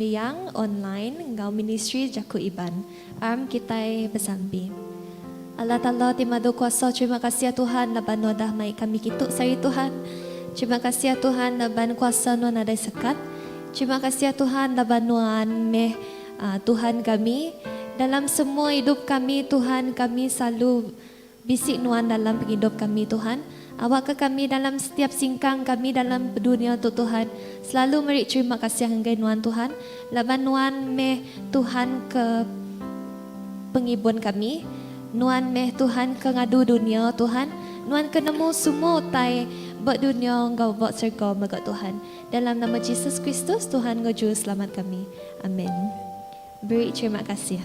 Liang Online enggau Ministri Jaku Iban. Arm kitai besampi. Allah Taala ti Madu Kuasa terima kasih Tuhan laban nuan dah mai kami kitu sehari Tuhan. Terima kasih Tuhan laban kuasa nuan nadai sekat. Terima kasih Tuhan laban nuan meh Tuhan kami dalam semua idup kami Tuhan kami selalu Bisi nuan dalam pengidup kami Tuhan, awakka kami dalam setiap singkang kami dalam dunia tu Tuhan, selalu meri terima kasih enggai nuan Tuhan, laban nuan meh Tuhan ke pengibun kami, nuan meh Tuhan ke ngadu dunia Tuhan, nuan ke nemu semua utai ba dunia enggau ba serga mega Tuhan, dalam nama Jesus Kristus Tuhan enggau Juruselamat kami. Amen. Beri terima kasih.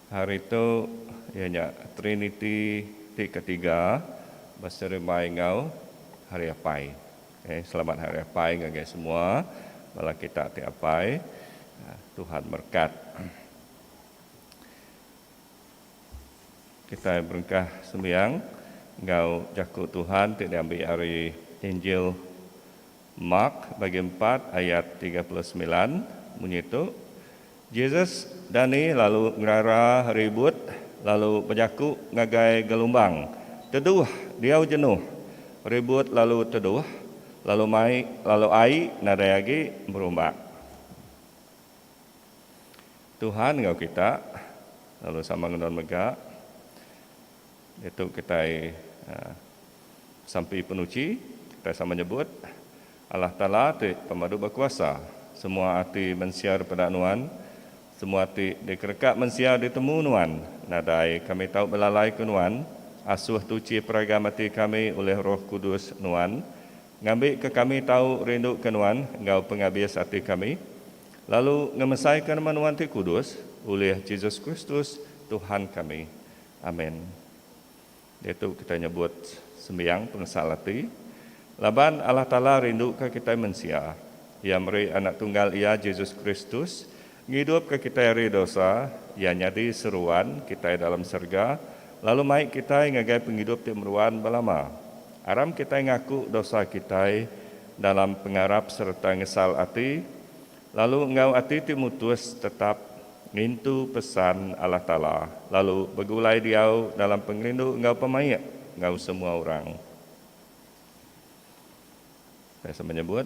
Hari tu iya nya Triniti ti ketiga beserembai enggau Hari Apai. Okay, selamat Hari Apai ngagai semua bala kita ti apai. Tuhan berkat. Kitai berengkah sembiang enggau jaku Tuhan ti diambi ari Injil. Mark bagi empat ayat tiga puluh semilan munyi tu, Jesus dani lalu ngerara ribut lalu bejaku ngagai gelumbang, Teduh, diau jenuh! Ribut lalu teduh, lalu mai lalu ai nadai agi berumbak. Tuhan enggau kita, lalu sama ngenun mega. Diatu kitai sampi penuchi, kitai sama nyebut, Allah Taala ti pemadu bekuasa, semua ati mensia dipeda Nuan, semua ti dikereka mensia ditemu Nuan, nadai kami tau belalaika Nuan, asuh tuchi peragam ati kami ulih Roh Kudus Nuan, ngambika kami tau rinduka Nuan enggau pengabis ati kami, lalu ngemesaika nama Nuan ti kudus, ulih Jesus Kristus, Tuhan kami. Amin. Diatu kitai nyebut sembiang pengesal ati. Laban Allah Taala rinduka kitai mensia, Iya meri Anak Tunggal Iya, Jesus Kristus, ngidupka kitai ari dosa, Iya nyadi seruan kitai dalam serega, lalu mai kitai ngagai pengidup ti meruan belama. Aram kitai ngaku dosa kitai dalam pengarap sereta ngesal ati. Lalu enggau ati ti mutus tetap ngintu pesan Allah Taala lalu begulai diau dalam pengerindu enggau pemaik enggau semua orang. Pesa menyebut,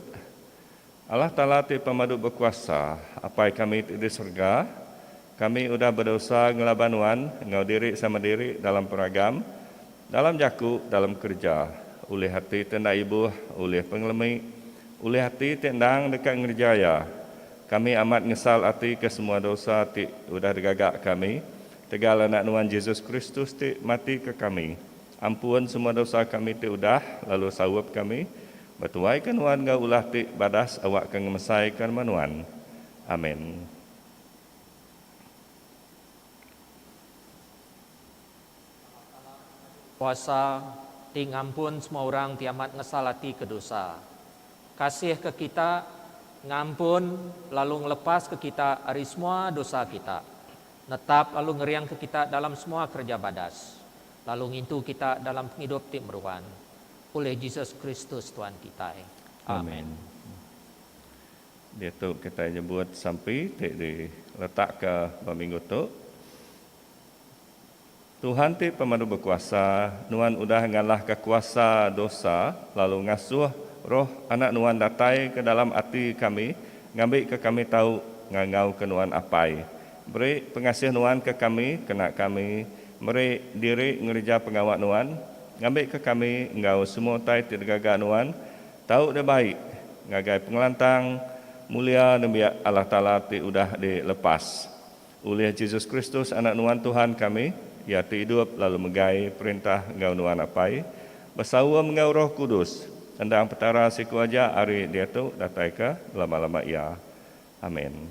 Allah Taala ti pemadu bekuasa, Apai kami ti di serega, Kami udah bedosa ngelaban nuan enggau diri sama diri dalam peragam, dalam jaku, dalam kereja, ulih ati ti enda ibuh, ulih pengelemi, ulih ati ti endang deka ngereja iya. Kami amat ngesal ati ke semua dosa ti udah digaga kami, tegal Anak nuan Jesus Kristus ti mati ke kami, ampun semua dosa kami ti udah lalu saup kami, betuai ke nuan enggau ulah ti badas awak ke ngemesai ke rema nuan. Amin. Kuasa ti ngampun semua orang ti amat ngesal ati ke dosa. Kasih ke kita ngampun lalu ngelepas ke kita ari semua dosa kita, netap lalu ngering ke kita dalam semua kereja badas, lalu ngintu kita dalam pengidup ti meruan. Ulih Jesus Kristus Tuan kitai. Amen. Diatu kitai nyebut sampi ti diletakka ba minggu tu, Tuhan ti pemadu bekuasa, nuan udah ngalahka kuasa dosa lalu ngasuh Roh Anak nuan datai ke dalam ati kami ngambika kami tau ngangauka nuan Apai. Beri pengasih nuan ke kami kena kami meri diri ngereja pengawa nuan ngambika kami enggau semua utai ti digaga nuan Tau deh baik ngagai pengelantang mulia nembiak Allah Taala ti udah di lepas ulih Jesus Kristus Anak Nuan Tuhan kami, Iya ti idup lalu megai perintah enggau Nuan Apai besaum enggau Roh Kudus, endang Petara siku aja ari diatu datai ke belama-lama iya. Amin.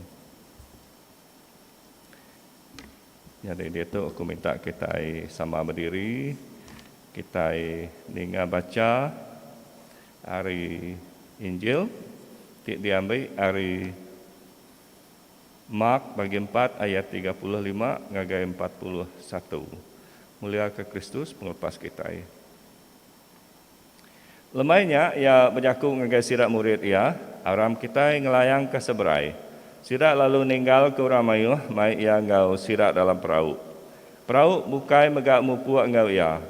Nyadi ditu aku minta kitai sama bediri, kitai ninga bacha ari Injil ti diambi ari Mark bagi empat ayat tiga puluh lima ngagai empat puluh satu. Muliaka Kristus pengelepas kitai. Lemai nya iya bejaku ngagai sida murid iya, Aram kitai ngelayangka seberai. Sida lalu ninggalka orang mayuh mai iya enggau sida dalam perau. Perau bukai mega mupuk enggau iya.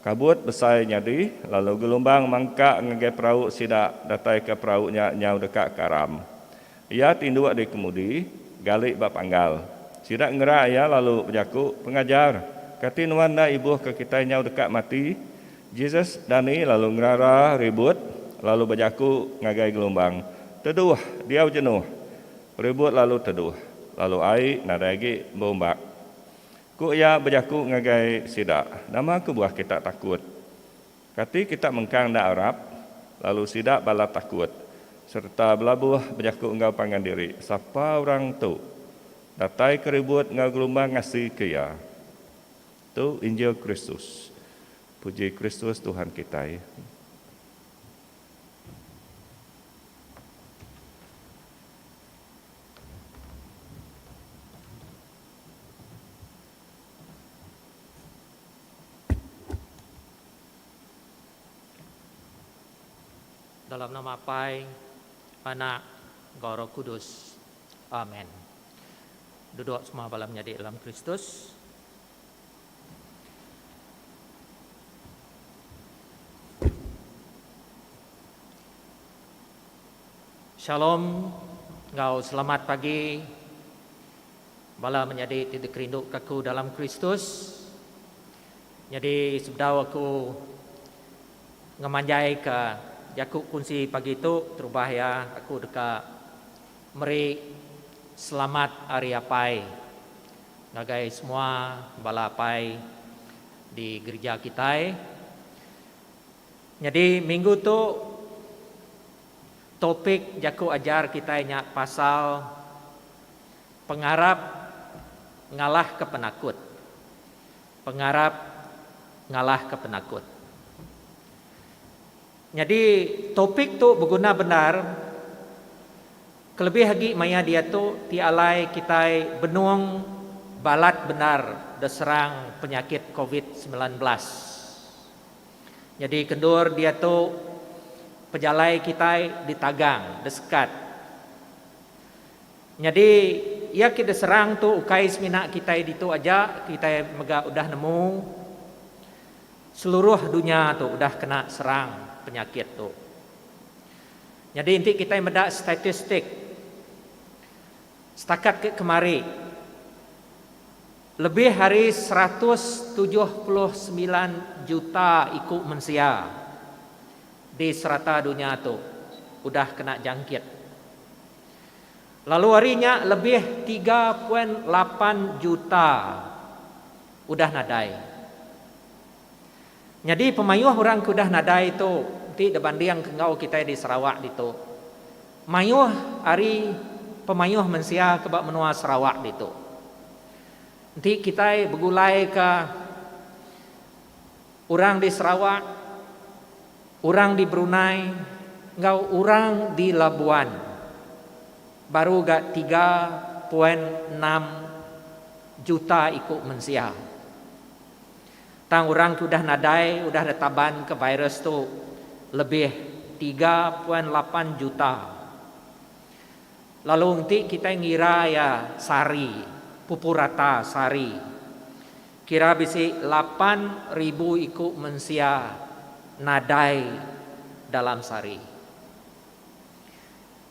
Kabut besai nyadi, lalu gelumbang mangkak ngagai perau sida dataika perau nya nyau deka karam. Iya tinduk di kemudi, gali ba panggal. Sida ngera iya lalu bejaku, Pengajar, kati Nuan enda ibuh ke kitai nyau deka mati? Jesus dani lalu ngerara ribut, lalu bejaku ngagai gelumbang, Teduh, diau jenuh! Ribut lalu teduh, lalu ai nadai agi beumbak. Ku iya bejaku ngagai sida, Nama kebuah kita takut? Kati kita mengkang enda arap, lalu sida balat takut sereta belabuh bejaku enggau pangan diri, Sapa orang tu? Datai ke ribut enggau gelumbang ngasi ke Iya. Tu injil Kristus. Puji Kristus Tuhan kitai. Dalam nama Apai, Anak, enggau Roh Kudus. Amen. Duduk semua bala menyadi dalam Kristus. Shalom enggau selamat pagi. Bala menyadi ti dikerinduka aku dalam Kristus, nyadi sebedau aku ngemanjaika jaku kunsi pagi tu terubah iya aku deka meri selamat Hari Apai ngagai semua bala apai di gerija kitai. Nyadi minggu tu topik jaku ajar kitai nya pasal. Pengarap ngalahka penakut. Pengarap ngalahka penakut. Nyadi topik tu beguna bendar kelebih agi maya diatu ti alai kitai benung balat bendar deserang penyakit covid semilan belas. Nyadi kendur diatu pejalai kitai ditagang, desekat. Nyadi, iya ke deserang tu ukai semina kitai ditu aja, kitai mega udah nemu seluruh dunya tu udah kena serang penyakit tu. Nyadi enti kitai meda statistik setakat ke kemari, lebih ari seratus tujuh puluh semilan juta iku mensia di serata dunya tu udah kena jangkit. Lalu ari nya lebih tiga poin lapan juta udah nadai. Nyadi pemayuh orang ke udah nadai tu enti dibandingka enggau kitai di Sarawak ditu, mayuh ari pemayuh mensia ke ba menua Sarawak ditu. Enti kitai begulaika Orang di Sarawak, orang di Brunei enggau orang di Labuan baru ga tiga poin enam juta iku mensia. Tang orang ke udah nadai udah ditaban ke virus tu lebih tiga poin lapan juta. Lalu enti kitai ngira iya sehari, pupurata sehari. Kira bisi lapan ribu iku mensia nadai dalam sehari.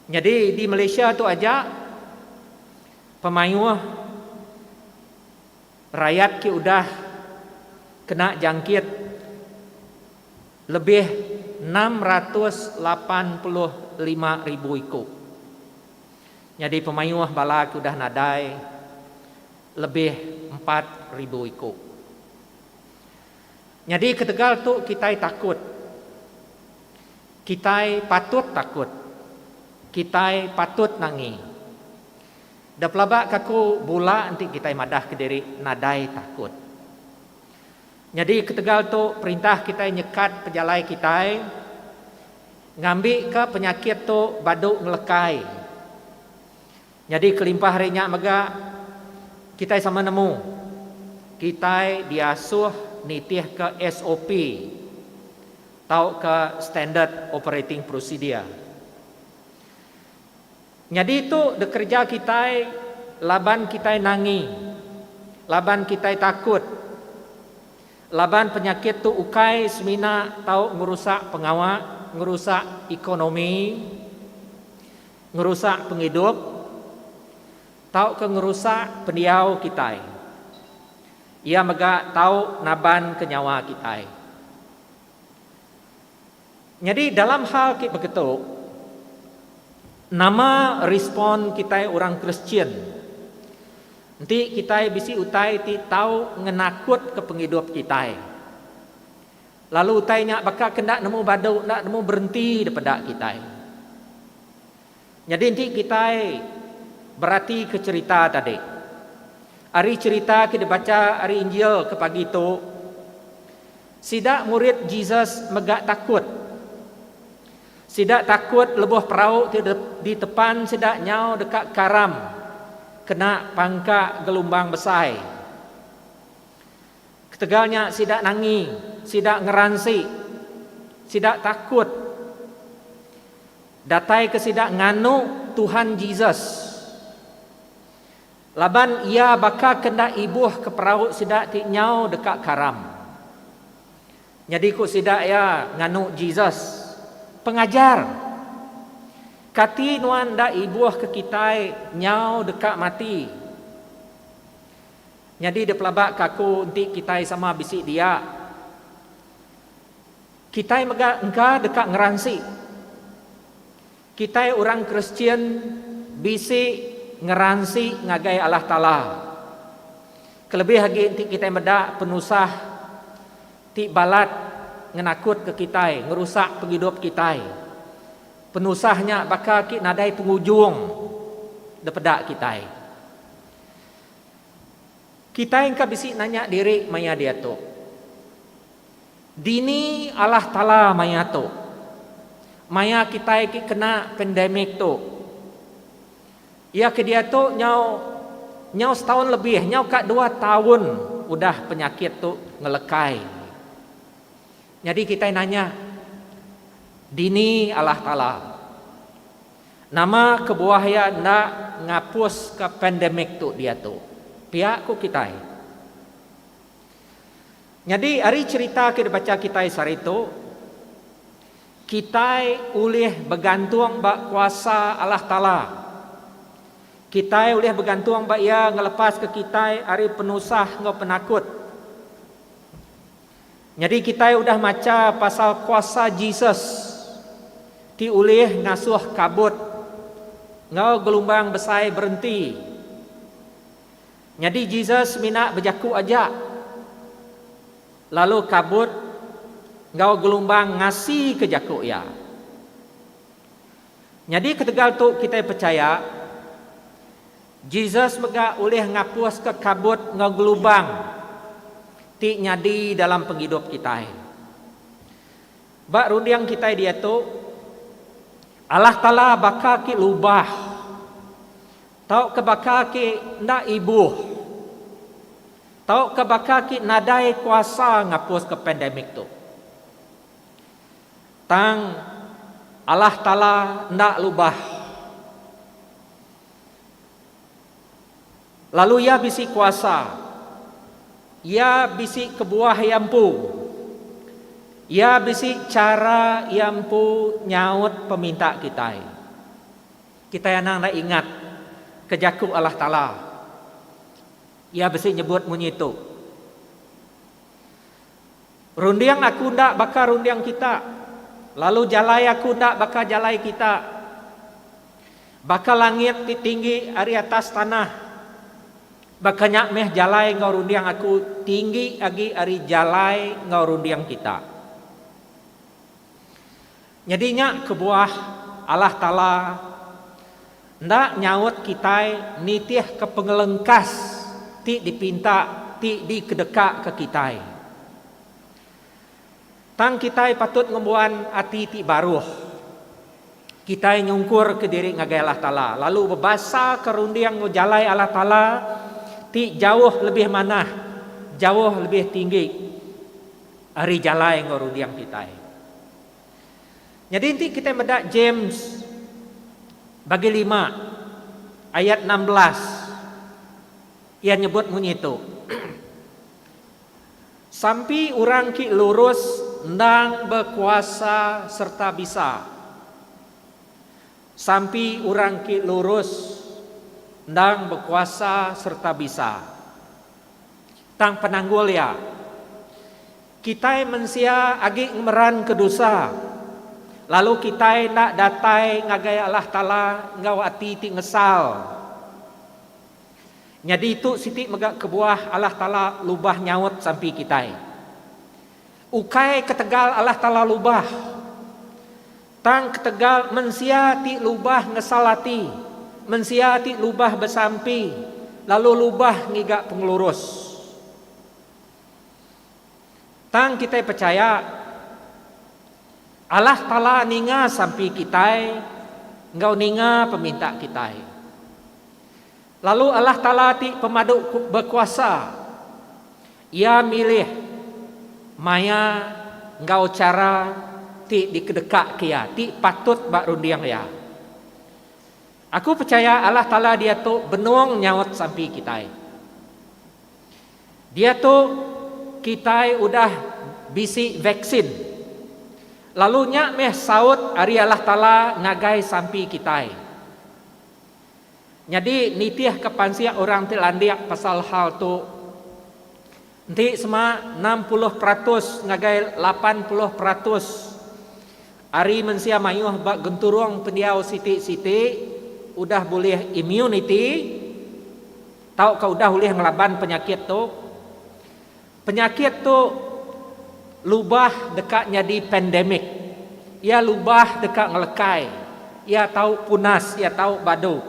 Nyadi di Malaysia tu aja pemayuh rayat ke udah kena jangkit lebih enam ratus lapan puluh lima ribu iku. Nyadi pemayuh bala ke udah nadai Lebih empat ribu iku. Nyadi ketegal tu kitai takut. Kitai patut takut. Kitai patut nangi. Da pelaba ka ku bula enti kitai madah ke diri nadai takut. Nyadi ketegal tu perintah kitai nyekat pejalai kitai ngambi ka penyakit tu badu ngelekai. Nyadi kelimpah ari nya mega, kitai sama nemu kitai diasuh nitihka SOP tauka Standard Operating Procedure. Nyadi tu dikereja kitai laban kitai nangi, laban kitai takut, laban penyakit tu ukai semina tau ngerusak pengawa, ngerusak ekonomi. Ngerusak pengidup tauka ngerusak pendiau kitai. Iya mega tau nabanka nyawa kitai. Nyadi dalam hal ti begitu, nama respon kitai orang Kristian enti kitai bisi utai ti tau ngenakutka pengidup kitai? Lalu utai nya baka ke enda nemu badu enda nemu berenti dipeda kitai. Nyadi enti kitai beratika cherita tadi. Ari cherita ke dibacha ari Injil ke pagi tu, sida murid Jesus mega takut. Sida takut lebuh perau ti ditepan sida nyau deka karam kena pangka gelumbang besai. Ketegal nya sida nangi, sida ngeransi, sida takut. Datai ke sida nganu Tuhan Jesus. Laban Iya baka ke enda ibuh ke perau sida ti nyau deka karam. Nyadi ku sida iya nganu Jesus, Pengajar, kati nuan enda ibuh ke kitai nyau deka mati? Nyadi da pelaba ke aku enti kitai sama bisi dia, kitai mega engka deka ngeransi. Kitai orang Kristian bisi ngeransi ngagai Allah Taala. Kelebih agi enti kitai meda penusah ti balat ngenakutka kitai, ngerusak pengidup kitai. Penusah nya baka ki nadai pengujung depeda kitai. Kitai engka bisi nanya diri maya diatu, Dini Allah Taala maya tu? Maya kitai ti kena pandemic tu, iya ke diatu nyau nyau setaun lebih, nyau ka dua taun udah penyakit tu ngelekai. Nyadi kitai nanya, Dini Allah Taala? Nama kebuah iya enda ngapuska pandemik tu diatu? Pia ku kitai. Nyadi ari cherita ke dibacha kitai sehari tu, kitai ulih begantung ba kuasa Allah Taala. Kitai ulih begantung ba Iya ngelepaska kitai ari penusah enggau penakut. Nyadi kitai udah macha pasal kuasa Jesus ti ulih ngasuh kabut enggau gelumbang besai berenti. Nyadi Jesus mina bejaku aja lalu kabut enggau gelumbang ngasika jaku iya. Nyadi ketegal tu kitai pechaya. Jesus mega ulih ngapuska kabut enggau gelubang ti nyadi dalam pengidup kitai. Ba runding kitai diatu, Allah Taala baka ke lubah tauka baka ke enda ibuh tauka baka ke nadai kuasa ngapuska pandemic tu. Tang, Allah Taala enda lubah. Lalu Iya bisi kuasa. Iya bisi kebuah Iya empu. Iya bisi chara Iya empu nyaut peminta kitai. Kitai anang enda ingat ke jaku Allah Taala Iya bisi nyebut munyi tu. Runding aku enda baka runding kita, lalu jalai aku enda baka jalai kita. Baka langit ti tinggi ari atas tanah, baka nya meh jalai enggau runding aku tinggi agi ari jalai enggau runding kita. Nyadi nya kebuah Allah Taala enda nyaut kitai nitihka pengelengkas ti dipinta ti dikedekaka kitai. Tang kitai patut ngembuan ati ti baruh. Kitai nyungkurka diri ngagai Allah Taala lalu bebasaka runding enggau jalai Allah Taala ti jauh lebih manah, jauh lebih tinggi ari jalai enggau runding kitai. Nyadi enti kitai meda James bagi lima ayat enam belas iya nyebut munyi tu, Sampi orang ti lurus endang bekuasa sereta bisa. Sampi orang ti lurus endang bekuasa sereta bisa. Tang penanggul iya, Kitai mensia agi ngemeranka dosa, lalu kitai enda datai ngagai Allah Taala enggau ati ti ngesal. Nyadi tu siti mega kebuah Allah Taala lubah nyaut sampi kitai. Ukai ketegal Allah Taala lubah, tang ketegal mensia ti lubah ngesal ati, mensia ti lubah besampi, lalu lubah ngiga pengelurus. Tang kitai pechaya, Allah Taala ninga sampi kitai enggau ninga peminta kitai. Lalu Allah Taala ti pemadu bekuasa, Iya milih maya enggau chara ti dikedekaka Iya, ti patut ba runding Iya. Aku pechaya Allah Taala diatu benung nyaut sampi kitai. Diatu, kitai udah bisi vaksin, lalu nya meh saut ari Allah Taala ngagai sampi kitai. Nyadi nitihka pansik orang ti landik pasal hal tu, enti sema enam puluh peratus ngagai lapan puluh peratus ari mensia mayuh ba genturung pendiau siti-siti udah bulih immunity, Tauka udah ulih ngelaban penyakit tu. Penyakit tu lubah deka nyadi pandemic. Iya lubah deka ngelekai. Iya tau punas, iya tau badu.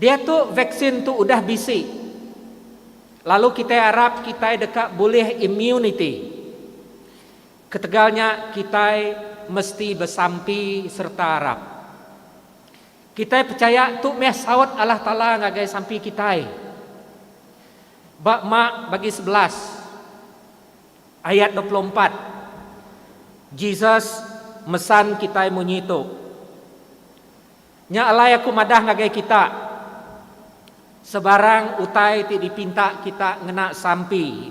Diatu vaksin tu udah bisi. Lalu kitai arap kitai deka bulih immunity. Ketegal nya kitai mesti besampi sereta arap. Kitai pechaya tu meh saut Allah Taala ngagai sampi kitai. Ba Mak bagi sebelas ayat dua puluh empat, Jesus mesan kitai munyi tu, Nya alai aku madah ngagai kita, sebarang utai ti dipinta kita ngena sampi,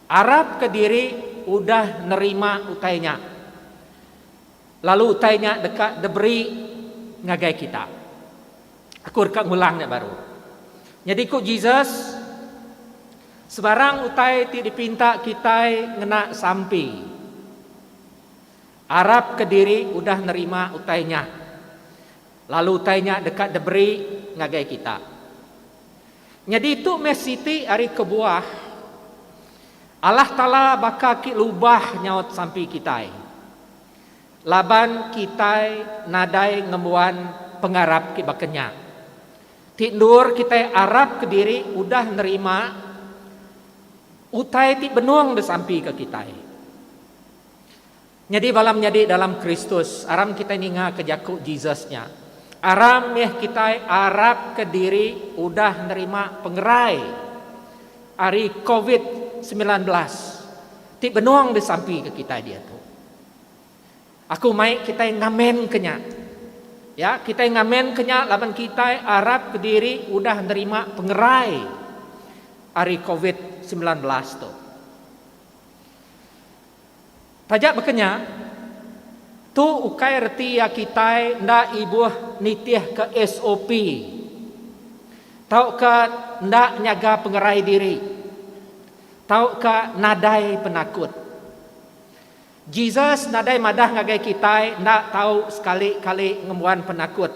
arapka diri udah nerima utai nya. Lalu utai nya deka diberi ngagai kita. Aku deka ngulang nya baru. Nyadi ku Jesus, Sebarang utai ti dipinta kitai ngena sampi, arap ke diri udah nerima utai nya, lalu utai nya deka diberi ngagai kita. Nyadi tu meh siti ari kebuah Allah Taala baka ki lubah nyaut sampi kitai laban kitai nadai ngembuan pengarap ki baka nya. Ti endur kitai arap ke diri udah nerima utai ti benung disampika kitai. Nyadi bala menyadi dalam Kristus, aram kitai ningaka jaku Jesus nya. Aram mih kitai arapka diri udah nerima pengerai ari Covid semilan belas ti benung disampika kitai diatu. Aku mai kitai ngamenka nya. Ya, kitai ngamenka nya laban kitai arapka diri udah nerima pengerai ari Covid semilan belas tu. Taja baka nya, tu ukai reti iya kitai enda ibuh nitihka SOP tauka enda nyaga pengerai diri tauka nadai penakut. Jesus nadai madah ngagai kitai enda tau sekali-kali ngembuan penakut.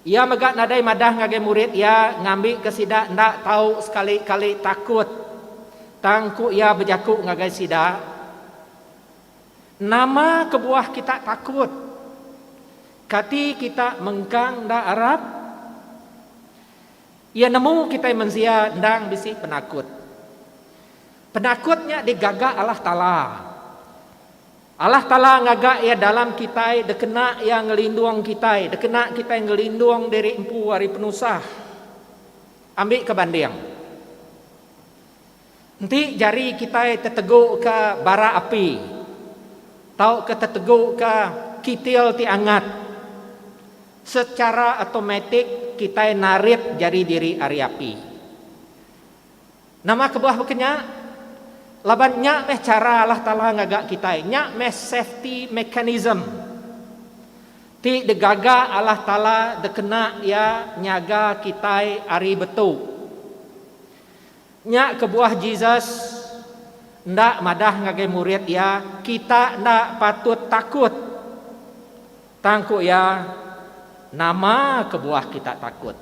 Iya mega nadai madah ngagai murid iya ngambika sida enda tau sekali-kali takut. Tang ku iya bejaku ngagai sida, Nama kebuah kita takut? Kati kita mengkang enda arap? Iya nemu kitai mensia endang bisi penakut. Penakut nya digaga Allah Taala. Allah Taala ngaga Iya dalam kitai dekena Iya ngelindung kitai, dekena kitai ngelindung diri empu ari penusah. Ambika banding, enti jari kitai teteguka bara api tauka teteguka kitil ti angat, sechara automatik kitai narit jari diri ari api. Nama kebuah baka nya? Laban nya meh chara Allah Taala ngaga kitai. Nya meh safety mechanism ti digaga Allah Taala dikena Iya nyaga kitai ari betu. Nya kebuah Jesus enda madah ngagai murid Iya, Kita enda patut takut. Tang ku Iya, Nama kebuah kita takut?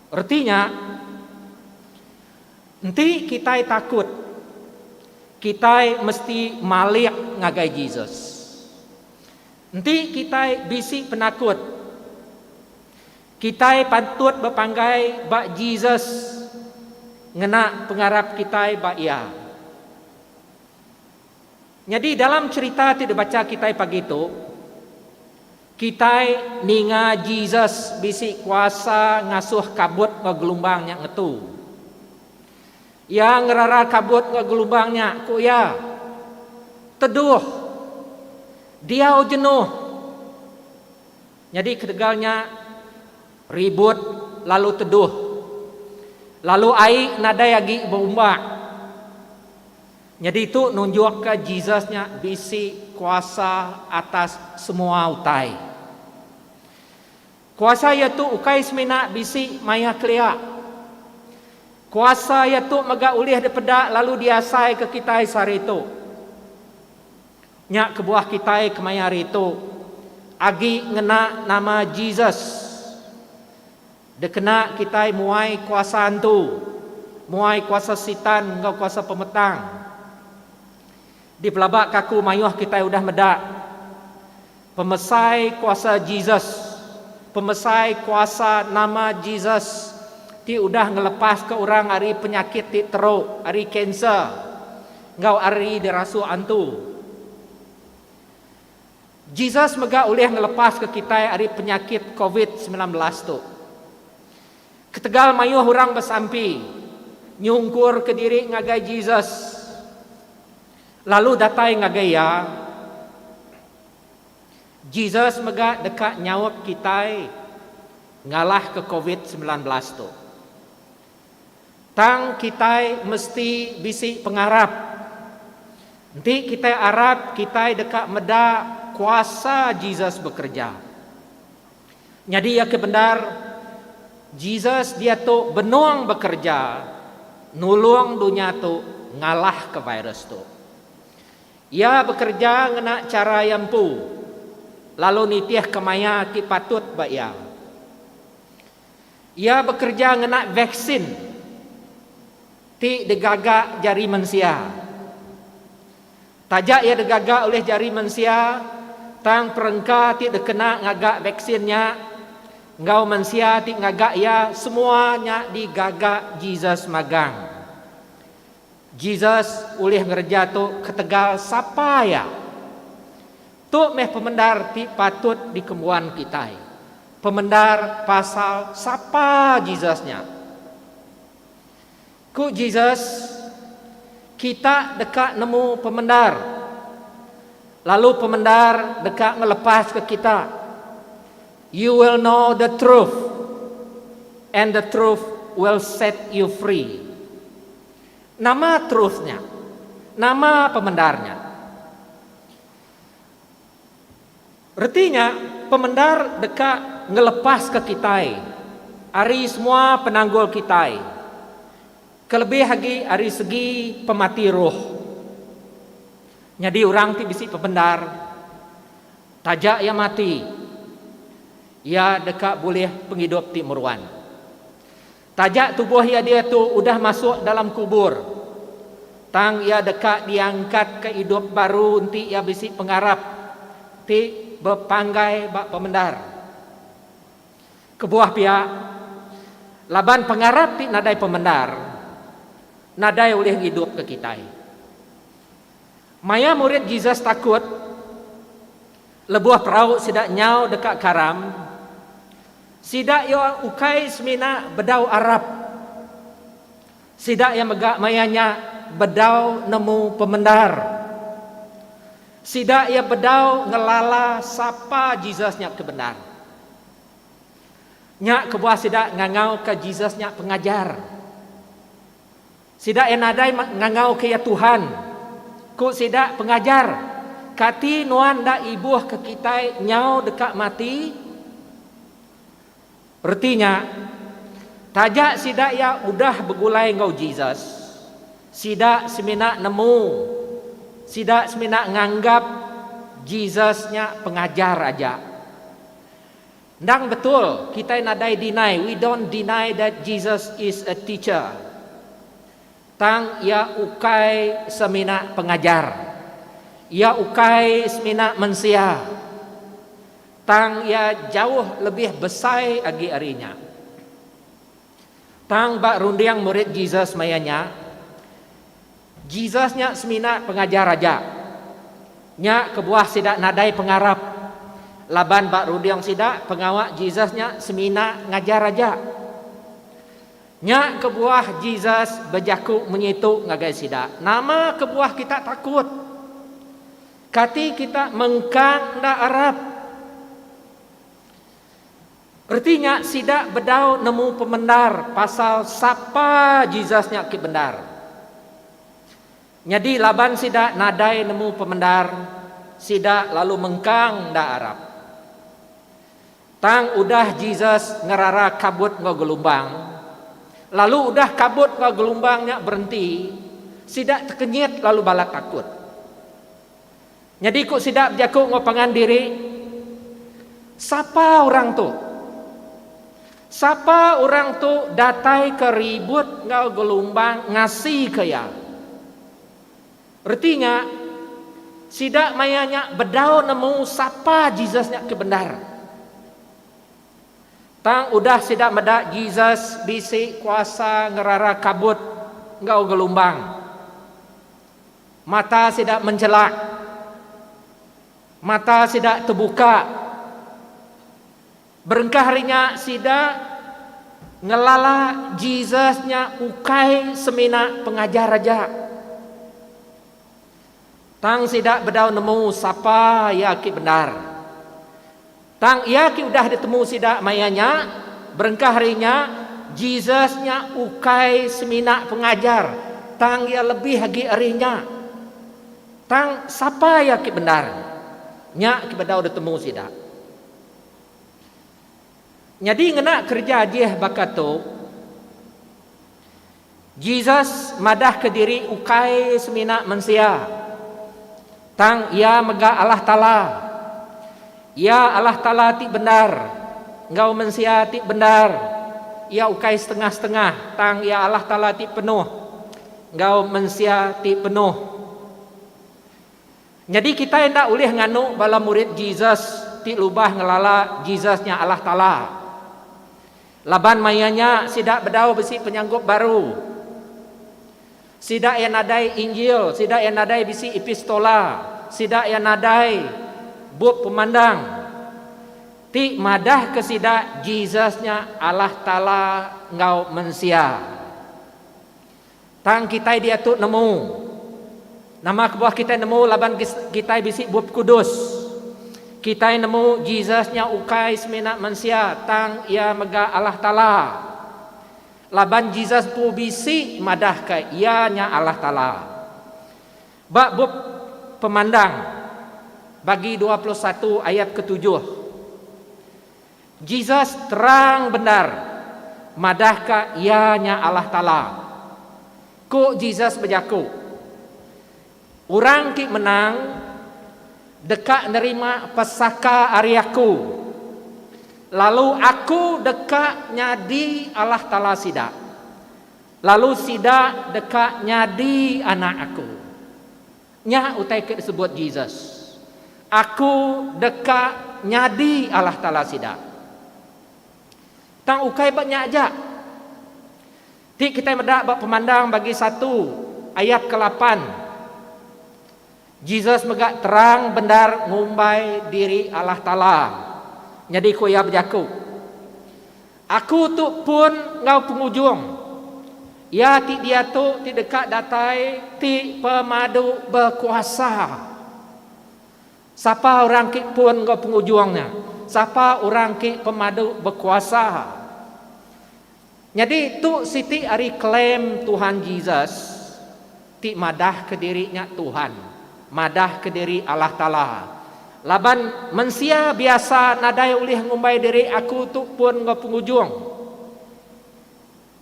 Reti nya, enti kitai takut, kitai mesti malik ngagai Jesus. Enti kitai bisi penakut, kitai patut bepanggai ba Jesus ngena pengarap kitai ba Iya. Nyadi dalam cherita ti dibacha kitai pagi tu, Kitai ninga Jesus bisi kuasa ngasuh kabut enggau gelumbang nya ngetu. Iya ngerara kabut enggau gelumbang nya, ku iya, Teduh! Diau jenuh! Nyadi ketegal nya, ribut lalu teduh. Lalu ai nadai agi beumbak. Nyadi tu nunjukka Jesus nya bisi kuasa atas semua utai. Kuasa iya tu ukai semina bisi maya kelia. Kuasa iya tu mega ulih dipeda lalu diasaika kitai sehari tu. Nya kebuah kitai kemaya hari tu agi ngena nama Jesus. Dekena kitai muai kuasa antu, muai kuasa Sitan enggau kuasa pemetang. Dipelaba ke aku mayuh kitai udah meda, pemesai kuasa Jesus, pemesai kuasa nama Jesus ti udah ngelepaska orang ari penyakit ti teruk, ari kanser enggau ari dirasuh antu. Jesus mega ulih ngelepaska kitai ari penyakit covid semilan belas tu. Ketegal mayuh orang besampi nyungkurka diri ngagai Jesus lalu datai ngagai iya, Jesus mega deka nyaup kitai ngalahka covid semilan belas tu. Tang kitai mesti bisi pengarap. Enti kitai arap kitai deka meda kuasa Jesus bekereja. Nyadi iya ke bendar, Jesus diatu benung bekereja nulung dunya tu ngalahka virus tu. Iya bekereja ngena chara iya empu lalu nitihka maya ti patut ba iya. Iya bekereja ngena vaksin ti digaga jari mensia. Taja iya digaga ulih jari mensia, tang perengka ti dikena ngaga vaksin nya enggau mensia ti ngaga iya semua nya digaga Jesus magang. Jesus ulih ngereja tu ketegal sapa iya. Tu meh pemendar ti patut dikembuan kitai, pemendar pasal sapa Jesus nya. Ku Jesus, Kita deka nemu pemendar, lalu pemendar deka ngelepaska kita. You will know the truth, and the truth will set you free. Nama truth nya? Nama pemendar nya? Reti nya, pemendar deka ngelepaska kitai ari semua penanggul kitai, kelebih agi ari segi pemati roh. Nyadi orang ti bisi pemendar. Taja iya mati, iya deka bulih pengidup ti meruan. Taja tubuh iya diatu udah masuk dalam kubur, tang iya deka diangkatka idup baru enti iya bisi pengarap ti bepanggai ba pemendar. Kebuah pia, laban pengarap ti nadai pemendar, nadai ulih ngidupka kitai. Maya murid Jesus takut lebuh perau sida nyau deka karam, sida iya ukai semina bedau arap. Sida iya mega maya nya bedau nemu pemendar. Sida iya bedau ngelala sapa Jesus nya ke bendar. Nya kebuah sida ngangauka Jesus nya Pengajar. Sida iya nadai ngangauka iya Tuhan. Ku sida, Pengajar, kati Nuan enda ibuhka kitai nyau deka mati? Reti nya, taja sida iya udah begulai enggau Jesus, sida semina nemu, sida semina nganggap Jesus nya pengajar aja. Endang betul kitai nadai deny, we don't deny that Jesus is a teacher. Tang iya ukai semina pengajar. Iya ukai semina mensia. Tang iya jauh lebih besai agi ari nya. Tang ba runding murid Jesus maya nya, Jesus nya semina pengajar aja. Nya kebuah sida nadai pengarap laban ba runding sida pengawa Jesus nya semina ngajar aja. Nya kebuah Jesus bejaku mengitu ngagai sida, Nama kebuah kita takut? Kati kita mengkang enda arap? Reti nya sida bedau nemu pemendar pasal sapa Jesus nya ke bendar. Nyadi laban sida nadai nemu pemendar, sida lalu mengkang enda arap. Tang udah Jesus ngerara kabut enggau gelumbang, lalu udah kabut enggau gelumbang nya berenti, sida tekenyit lalu balat takut. Nyadi ku sida bejaku enggau pangan diri, Sapa orang tu? Sapa orang tu dataika ribut enggau gelumbang ngasika iya? Reti nya, sida maya nya bedau nemu sapa Jesus nya ti bendar. Tang udah sida meda Jesus bisi kuasa ngerara kabut enggau gelumbang. Mata sida menjelak. Mata sida tebuka. Berengkah ari nya sida ngelala Jesus nya ukai semina pengajar aja. Tang sida bedau nemu sapa iya ke bendar. Tang iya ti udah ditemu sida maya nya, berengkah ari nya, Jesus nya ukai semina pengajar, tang iya lebih agi ari nya. Tang sapa iya ti bendar? Nya ti bedau ditemu sida. Nyadi ngena kereja Jeh baka tu, Jesus madahka diri ukai semina mensia, tang iya mega Allah Taala. Iya Allah Taala ti bendar enggau mensia ti bendar. Iya ukai setengah-setengah, tang iya Allah Taala ti penuh enggau mensia ti penuh. Nyadi kitai enda ulih nganu bala murid Jesus ti lubah ngelala Jesus nya Allah Taala. Laban maya nya sida bedau bisi penyanggup baru. Sida iya nadai Injil, sida iya nadai bisi epistola, sida iya nadai bup pemandang ti madahka sida Jesus nya Allah Taala enggau mensia. Tang kitai diatu nemu. Nama kebuah kitai nemu laban kitai bisi Bup Kudus? Kitai nemu Jesus nya ukai semina mensia tang iya mega Allah Taala. Laban Jesus empu bisi madahka iya nya Allah Taala. Ba bup Pemandang bagi dua puluh satu ayat ketujuh, Jesus terang bendar madahka Iya nya Allah Taala. Ku Jesus bejaku, Orang ti menang deka nerima pesaka ari Aku, lalu Aku deka nyadi Allah Taala sida, lalu sida deka nyadi anak Aku. Nya utai ke disebut Jesus, Aku deka nyadi Allah Taala sida. Tang ukai ba nya aja ti kitai meda ba pemandang bagi satu ayat ke lapan, Jesus mega terang bendar ngumbai diri Allah Taala. Nyadi ku iya bejaku, Aku tu pun enggau pengujung. Iya ti diatu ti deka datai ti pemadu bekuasa. Sapa orang ke pun enggau pengujung nya? Sapa orang ke pemadu bekuasa? Nyadi tu siti ari klaim Tuhan Jesus. Ti madahka diri nya Tuhan, madahka diri Allah Taala. Laban mensia biasa nadai ulih ngumbai diri aku tu pun enggau pengujung.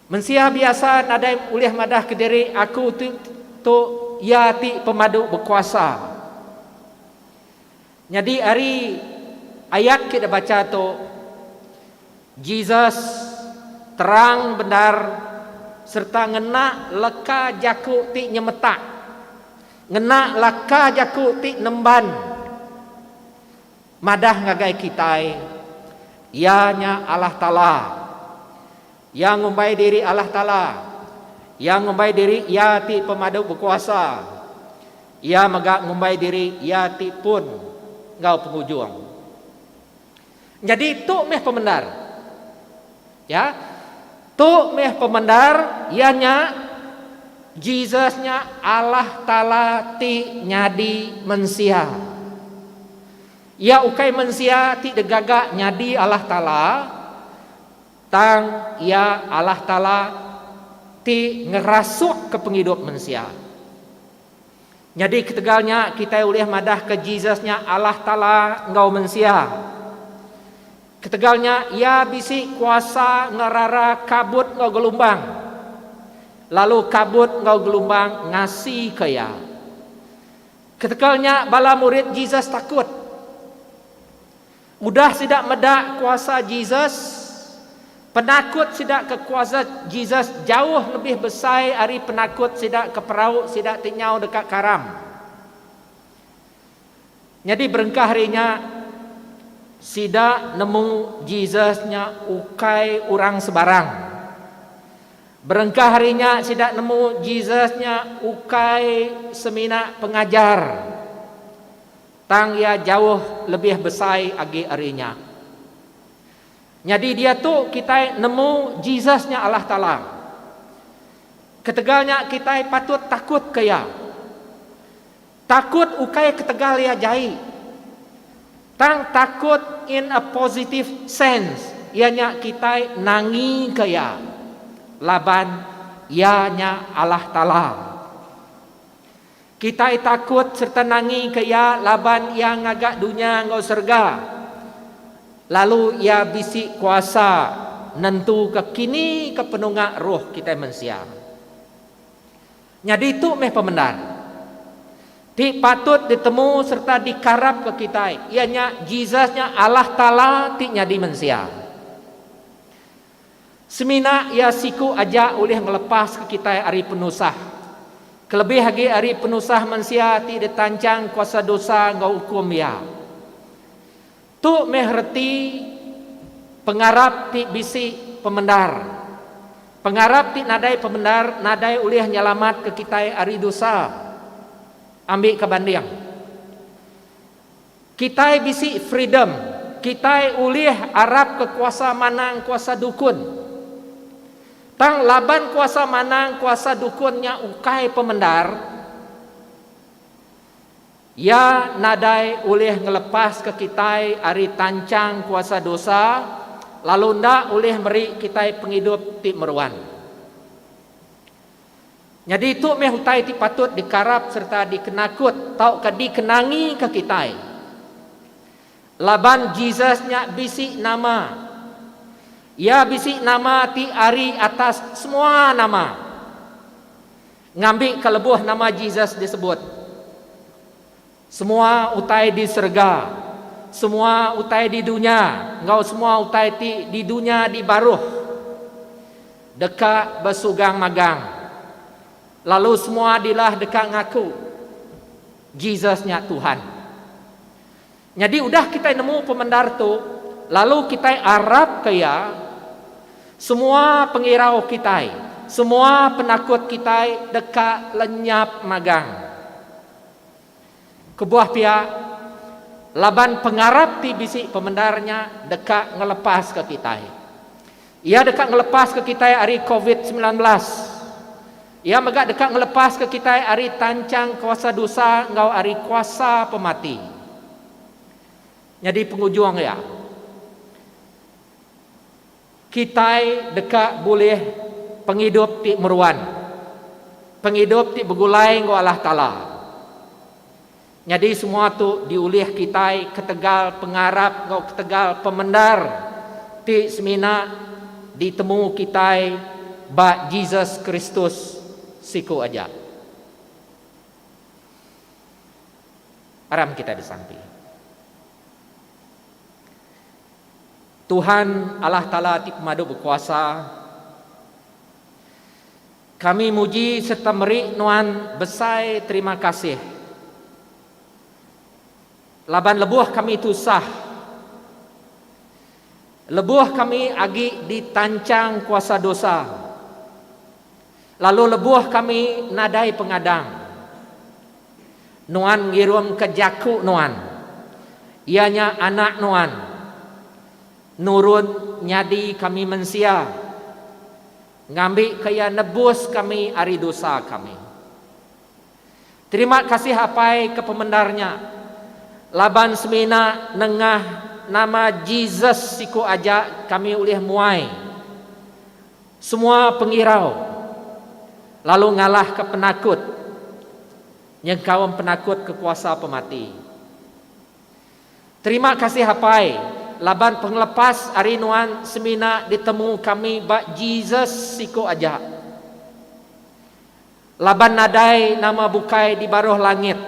Mensia biasa nadai ulih madahka diri aku tu tu Iya ti pemadu bekuasa. Nyadi ari ayat ke dibacha tu, Jesus terang bendar sereta ngena leka jaku ti nyemetak, ngena leka jaku ti nemban madah ngagai kitai, Iya nya Allah Taala. Iya ngumbai diri Allah Taala. Iya ngumbai diri Iya ti Pemadu Bekuasa. Iya mega ngumbai diri iya ti pun enggau pengujung. Nyadi tu meh pemendar. Ya. Tu meh pemendar iya nya Jesus nya Allah Taala ti nyadi mensia. Iya ukai mensia ti digaga nyadi Allah Taala, tang iya Allah Taala ti ngerasukka pengidup mensia. Nyadi ketegal nya kitai ulih madahka Jesus nya Allah Taala enggau mensia. Ketegal nya iya bisi kuasa ngerara kabut enggau gelumbang, lalu kabut enggau gelumbang ngasika iya. Ketegal nya bala murid Jesus takut. Udah sida meda kuasa Jesus, penakut sida ke kuasa Jesus jauh lebih besai ari penakut sida ke perau sida ti nyau deka karam. Nyadi berengkah ari nya, sida nemu Jesus nya ukai orang sebarang. Berengkah ari nya, sida nemu Jesus nya ukai semina pengajar Tang iya jauh lebih besai agi ari nya. Nyadi diatu kitai nemu Jesus nya Allah Taala. Ketegal nya kitai patut takut ke iya. Takut ukai ketegal iya jai. Tang takut in a positive sense iya nya kitai nangi ke iya laban iya nya Allah Taala. Kitai takut sereta nangika iya laban iya ngaga dunya enggau serega, lalu iya bisi kuasa nentuka kini ke penunga roh kitai mensia. Nyadi tu meh pemendar ti patut ditemu sereta dikarapka kitai iya nya Jesus nya Allah Taala ti nyadi mensia. Semina iya siku aja ulih ngelepaska kitai ari penusah. Kelebih agi ari penusah mensia ti ditanchang kuasa dosa enggau ukum iya. Tu meh reti pengarap ti bisi pemendar. Pengarap ti nadai pemendar nadai ulih nyelamatka kitai ari dosa. Ambika banding. Kitai bisi freedom, kitai ulih arap ke kuasa manang kuasa dukun. Tang laban kuasa manang kuasa dukun nya ukai pemendar, iya nadai ulih ngelepaska kitai ari tanchang kuasa dosa lalu enda ulih meri kitai pengidup ti meruan. Nyadi tu meh utai ti patut dikarap sereta dikenakut tauka dikenangika kitai. Laban Jesus nya bisi nama. Iya bisi nama ti ari atas semua nama. Ngambika lebuh nama Jesus disebut. Semua utai di serega, semua utai di dunya enggau semua utai ti di dunya di baruh deka besugang magang, lalu semua dilah deka ngaku Jesus nya Tuhan. Nyadi udah kitai nemu pemendar tu, lalu kitai arapka iya, semua pengirau kitai, semua penakut kitai deka lenyap magang. Kebuah pia, laban pengarap ti bisi pemendar nya deka ngelepaska kitai. Iya deka ngelepaska kitai ari covid semilan belas. Iya mega deka ngelepaska kitai ari tanchang kuasa dusa enggau ari kuasa pemati. Nyadi pengujung iya. Kitai deka bulih pengidup ti meruan, pengidup ti begulai enggau Allah Taala. Nyadi semua tu diulih kitai ketegal pengarap enggau ketegal pemendar ti semina ditemu kitai ba Jesus Kristus siku aja. Aram kitai besampi. Tuhan, Allah Taala ti pemadu bekuasa, kami muji serta meri Nuan besai terima kasih laban lebuh kami tusah, lebuh kami agi ditanchang kuasa dosa. Lalu lebuh kami nadai pengadang, nuan ngirumka jaku nuan, iya nya Anak nuan, nurun nyadi kami mensia, ngambika iya nebus kami ari dosa kami. Terima kasih Apai ke pemendar nya laban semina nengah nama Jesus siku aja kami ulih muai semua pengirau lalu ngalahka penakut nyengkaum penakut ke kuasa pemati. Terima kasih Apai laban pengelepas ari nuan semina ditemu kami ba Jesus siku aja. Laban nadai nama bukai di baruh langit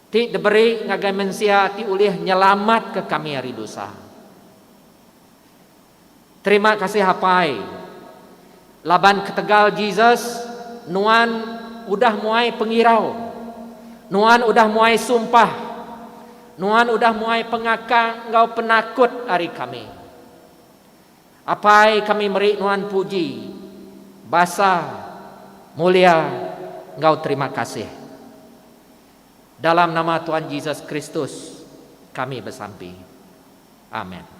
ti diberi ngagai mensia ti ulih nyelamatka kami ari dosa. Terima kasih Apai, laban ketegal Jesus, Nuan udah muai pengirau, Nuan udah muai sumpah, Nuan udah muai pengakang enggau penakut ari kami. Apai kami meri nuan puji, basa, mulia, enggau terima kasih. Dalam nama Tuan Jesus Kristus kami besampi. Amen.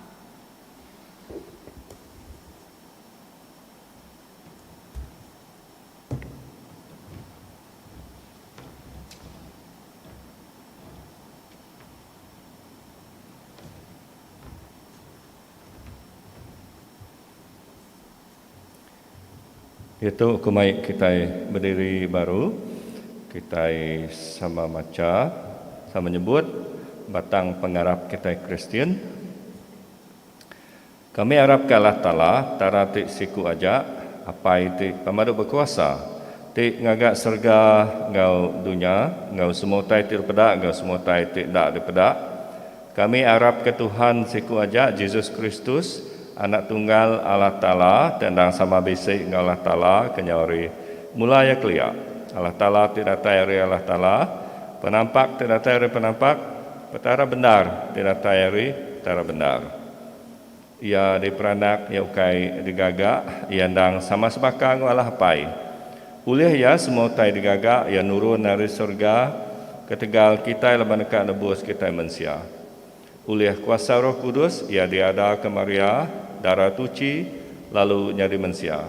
Diatu aku mai kitai bediri baru, kitai sama macha, sama nyebut batang pengarap kitai Kristian. Kami arapka Allah Taala, Petara ti siku aja, Apai ti pemadu bekuasa, ti ngaga serega enggau dunya, enggau semua utai ti dipeda enggau semua utai ti enda dipeda. Kami arapka Tuhan siku aja Jesus Kristus, Anak Tunggal Allah Taala ti endang sama bisi enggau Allah Taala kenyau hari. Mula iya kelia, Allah Taala ti datai ari Allah Taala, Penampak ti datai ari Penampak, Petara bendar ti datai ari Petara bendar. Iya diperanak iya ukai digaga, iya endang sama sebaka enggau Allah Apai. Ulih iya semua utai digaga iya nurun ari serega ketegal kitai laban deka nebus kitai mensia. Ulih kuasa Roh Kudus iya diadaka Maria, dara tuchi, lalu nyadi mensia.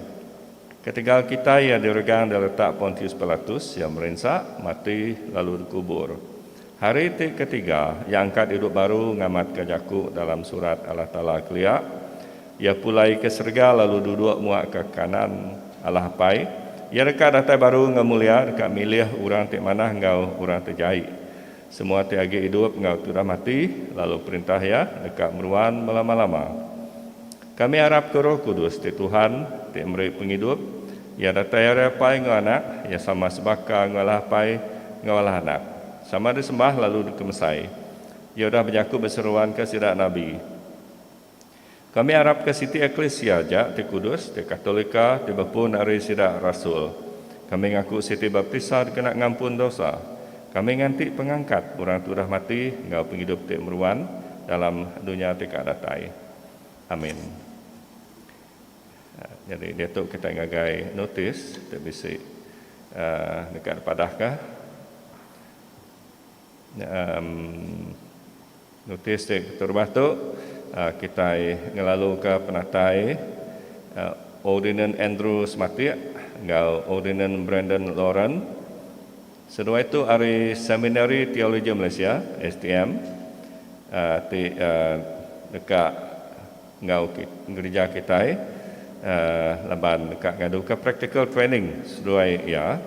Ketegal kitai iya diregang di letak Pontius Pilatus, iya merinsa, mati, lalu dikubur. Hari ti ketiga, iya angkat idup baru ngamatka jaku dalam Surat Allah Taala kelia, Iya pulai ke serega lalu duduk muak ke kanan Allah Apai. Iya deka datai baru enggau mulia deka milih orang ti manah enggau orang ti jai. Semua ti agi idup enggau ti udah mati, lalu perintah Iya, deka meruan belama-lama. Kami arapka Roh Kudus ti Tuhan, ti meri pengidup, iya datai ari Apai enggau Anak, iya sama sebaka enggau Allah Apai enggau Allah Anak. Sama disembah lalu dikemesai. Iya udah bejaku beseruanka sida nabi. Kami arapka siti eklisia aja ti kudus, ti katolika, ti bepun ari sida rasul. Kami ngaku siti baptisa dikena ngampun dosa. Kami nganti pengangkat orang ti udah mati enggau pengidup ti meruan dalam dunya ti ka datai. Amin. Nyadi diatu kitai ngagai notis ti bisi deka dipadahka. Notis ti keterubah tu kitai ngelaluka penatai Ordinan Andrew Sematik enggau Ordinan Brandon Lauren. Seduai tu ari Seminari Teologi Malaysia, STM, ti deka enggau gereja kitai laban deka ngaduka practical training seduai iya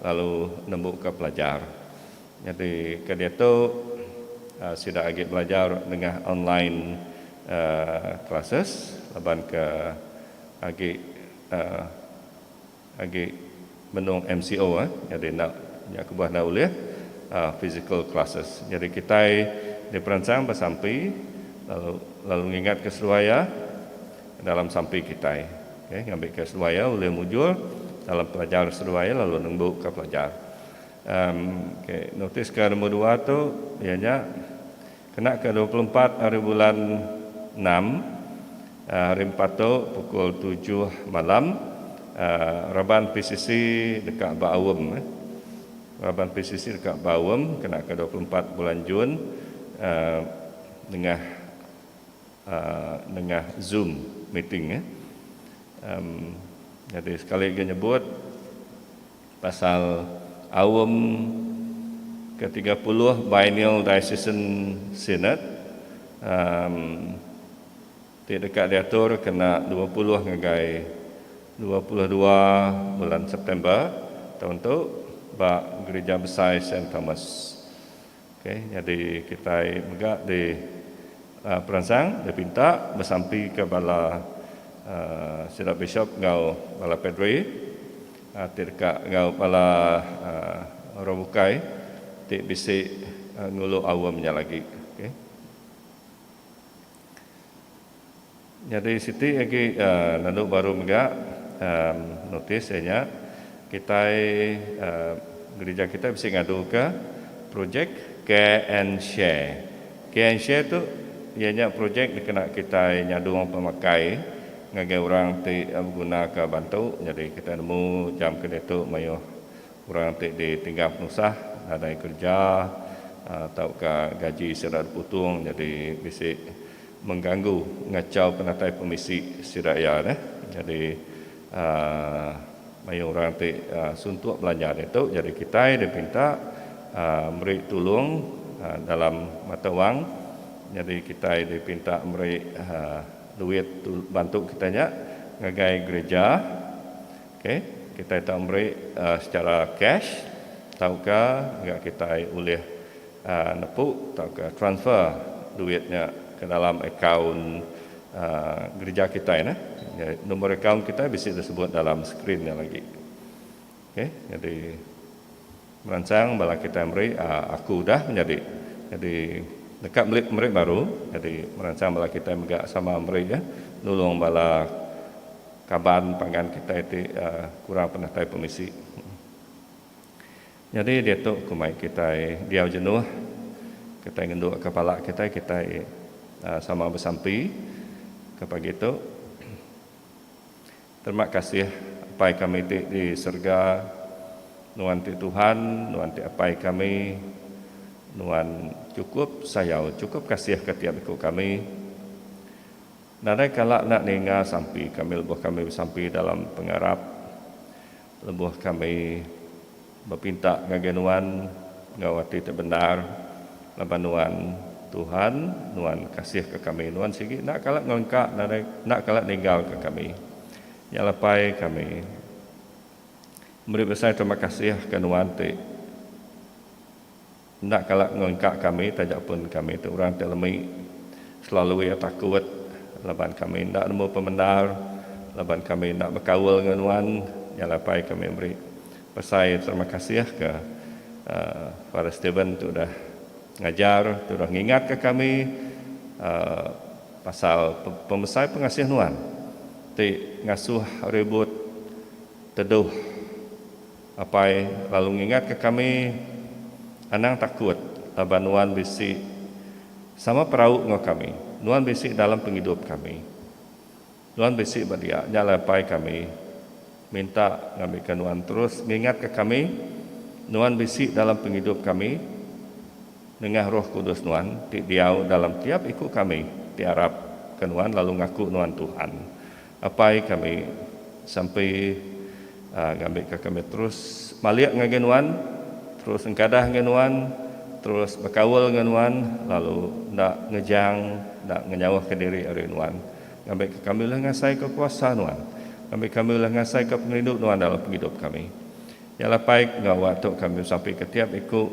lalu nembuka pelajar. Nyadi ke diatu sida agi belajar nengah online classes laban ke agi. Agi menung MCO eh nyadi enda nya kebuah enda ulih physical classes. Nyadi kitai diperansang ba sampi lalu lalu ngingatka seduai iya dalam sampi kitai okay ngambika seduai iya ulih mujur dalam pelajar seduai iya lalu nembuka pelajar. Em okay notis ke nombor dua tu iya nya Kena ke dua puluh empat ari bulan enam, Hari Empat tu, pukul tujuh malam, raban PCC deka baaum. Raban PCC deka baaum kena ke dua puluh empat bulan Jun nengah nengah zoom meeting. Nyadi sekali lagi nyebut, Pasal Aum ketiga puluh Biennial Diocesan Synod emm ti deka diatur kena dua puluh ngagai dua puluh dua bulan September taun tu ba Gerija Besai Saint Thomas. Okey, nyadi kitai mega di peransang dipinta besampika bala sida bishop enggau bala padri ti deka enggau bala orang bukai ti bisi ngulu aum nya lagi. Okey. Nyadi siti agi nendu baru mega notis iya nya kitai gerija kitai bisi ngaduka projek care and share. Care and share tu iya nya projek dikena kitai nyadung pemakai ngagai orang ti begunaka bantu nyadi kitai nemu jam keditu mayuh. Orang ti ditinggal penusah nadai kereja tauka gaji sida diputung nyadi bisi mengganggu ngachau penatai pemisi sida iya neh. Nyadi mayuh orang ti suntuk belanja ditu nyadi kitai dipinta meri tulung dalam mata wang nyadi kitai dipinta meri duit bantu kitai nya ngagai gereja Ok, kitai tau meri secara cash tauka mega kitai ulih nepu tauka transfer duit nya ke dalam akaun gereja kitai neh. Number akaun kitai bisi disebut dalam skrin nya lagi. Ok, nyadi. Meransang bala kitai meri Aku udah menyadi. Nyadi neka meli pemeri baru. Nyadi meransang bala kitai mega sama meri nulung bala kaban pangan kitai ti kurang penatai pemisi. Nyadi diatu ku mai kitai diau jenuh, kitai ngendukka pala kitai, kitai sama besampi ke pagi tu. Terima kasih Apai kami ti di serega, Nuan ti Tuhan, Nuan ti Apai kami, Nuan chukup sayau, chukup kasih ka tiap iku kami. Nadai kala enda ninga sampi kami lebuh kami besampi dalam pengarap. Lebuh kami bepinta ngagai Nuan enggau ati ti bendar, laban Nuan, Tuhan, Nuan kasihka kami, Nuan sigi enda kala ngelengka enda kala ninggalka kami. Nya lepai kami meri besai terima kasih ke Nuan ti. Enda kala ngelengka kami taja pun kami tu orang ti lemi selalu iya takut laban kami enda nemu pemendar laban kami enda bekaul enggau nuan nyalai apai kami meri pesai terima kasih ke Father Steven tu udah ngajar tu udah ngingat ke kami pasal pemesai pengasih nuan ti ngasuh ribut teduh. Apai lalu ngingatka kami, Anang takut laban nuan bisi sama perau enggau kami. Nuan bisi dalam pengidup kami. Nuan bisi ba dia. Nya alai Apai kami minta ngambika nuan terus ngingatka kami nuan bisi dalam pengidup kami nengah Roh Kudus nuan ti diau dalam tiap iku kami ti arapka nuan lalu ngaku nuan Tuhan. Apai kami sampi ngambi ka kami terus malik ngagai nuan, terus engkadah enggau nuan, terus bekaul enggau nuan lalu enda ngejang enda ngenyauh ka diri ari nuan ngambi ka kami ulih ngasai ka kuasa nuan ngambi kami ulih ngasai ka pengerindu nuan dalam pengidup kami. Nya lah apai enggau wa tu kami sampi ka tiap iku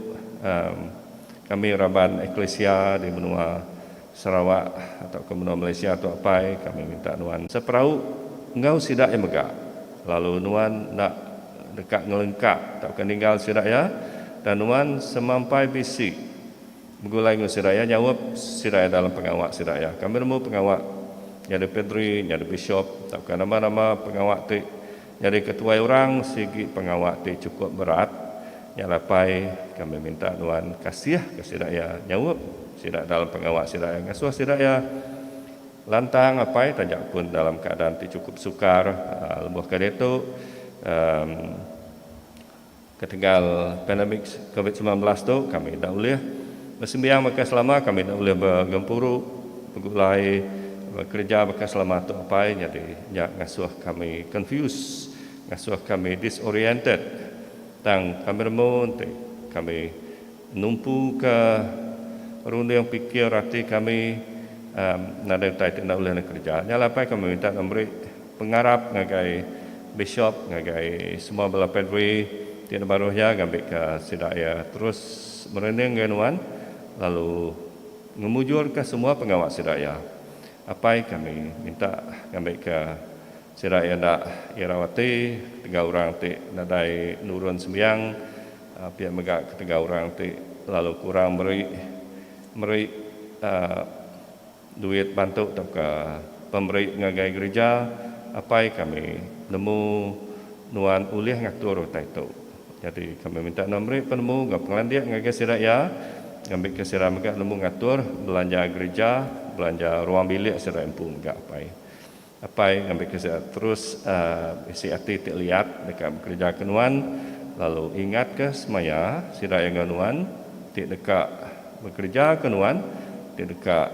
kami raban eklisia di menua Sarawak tauka menua Malaysia tu apai kami minta nuan seperau enggau sida iya mega lalu nuan enda deka ngelengka tauka ninggal sida iya dan nuan semampai bisi begulai enggau sida iya nyaup sida iya dalam pengawa sida iya kami nemu pengawa nyadi Padri nyadi Bishop tauka nama-nama pengawa ti Nyadi ketuai orang sigi pengawa ti chukup berat. Nya lapai kami minta nuan kasihka sida iya, nyaup sida dalam pengawa sida iya, ngasuh sida iya lantang apai taja pun dalam keadaan ti chukup sukar. Lebuh ke diatu, emm. Ketegal pandemik Covid semilan belas tu kami enda ulih besembiang baka selama, kami enda ulih begempuru, begulai, bekereja baka selama tu apai nyadi nya ngasuh kami confused, ngasuh kami disoriented tang kami remu enti kami. Numpuka runding pikir ati kami nadai utai ti enda ulih dikereja. Nya alai pai kami minta deka meri pengarap ngagai bishop ngagai semua bala padri ti enda baruh iya ngambika sida iya terus merunding ngagai nuan lalu ngemujurka semua pengawa sida iya. Apai kami minta ngambika sida iya enda irau ati enggau orang ti nadai nurun sembiang Pia mega ketegal orang ti lalu kurang meri meri duit bantu tauka pemeri ngagai gerija, apai kami nemu nuan ulih ngatur utai tu. Nyadi kami minta nuan meri penemu enggau pengelandik ngagai sida iya ngambika sida mega nemu ngatur belanja gerija, belanja ruang bilik sida empu mega apai. Apai ngambika sida terus bisi ati ti liat deka bekereja ke nuan, lalu ingatka semaya sida enggau nuan ti deka bekereja ke nuan ti deka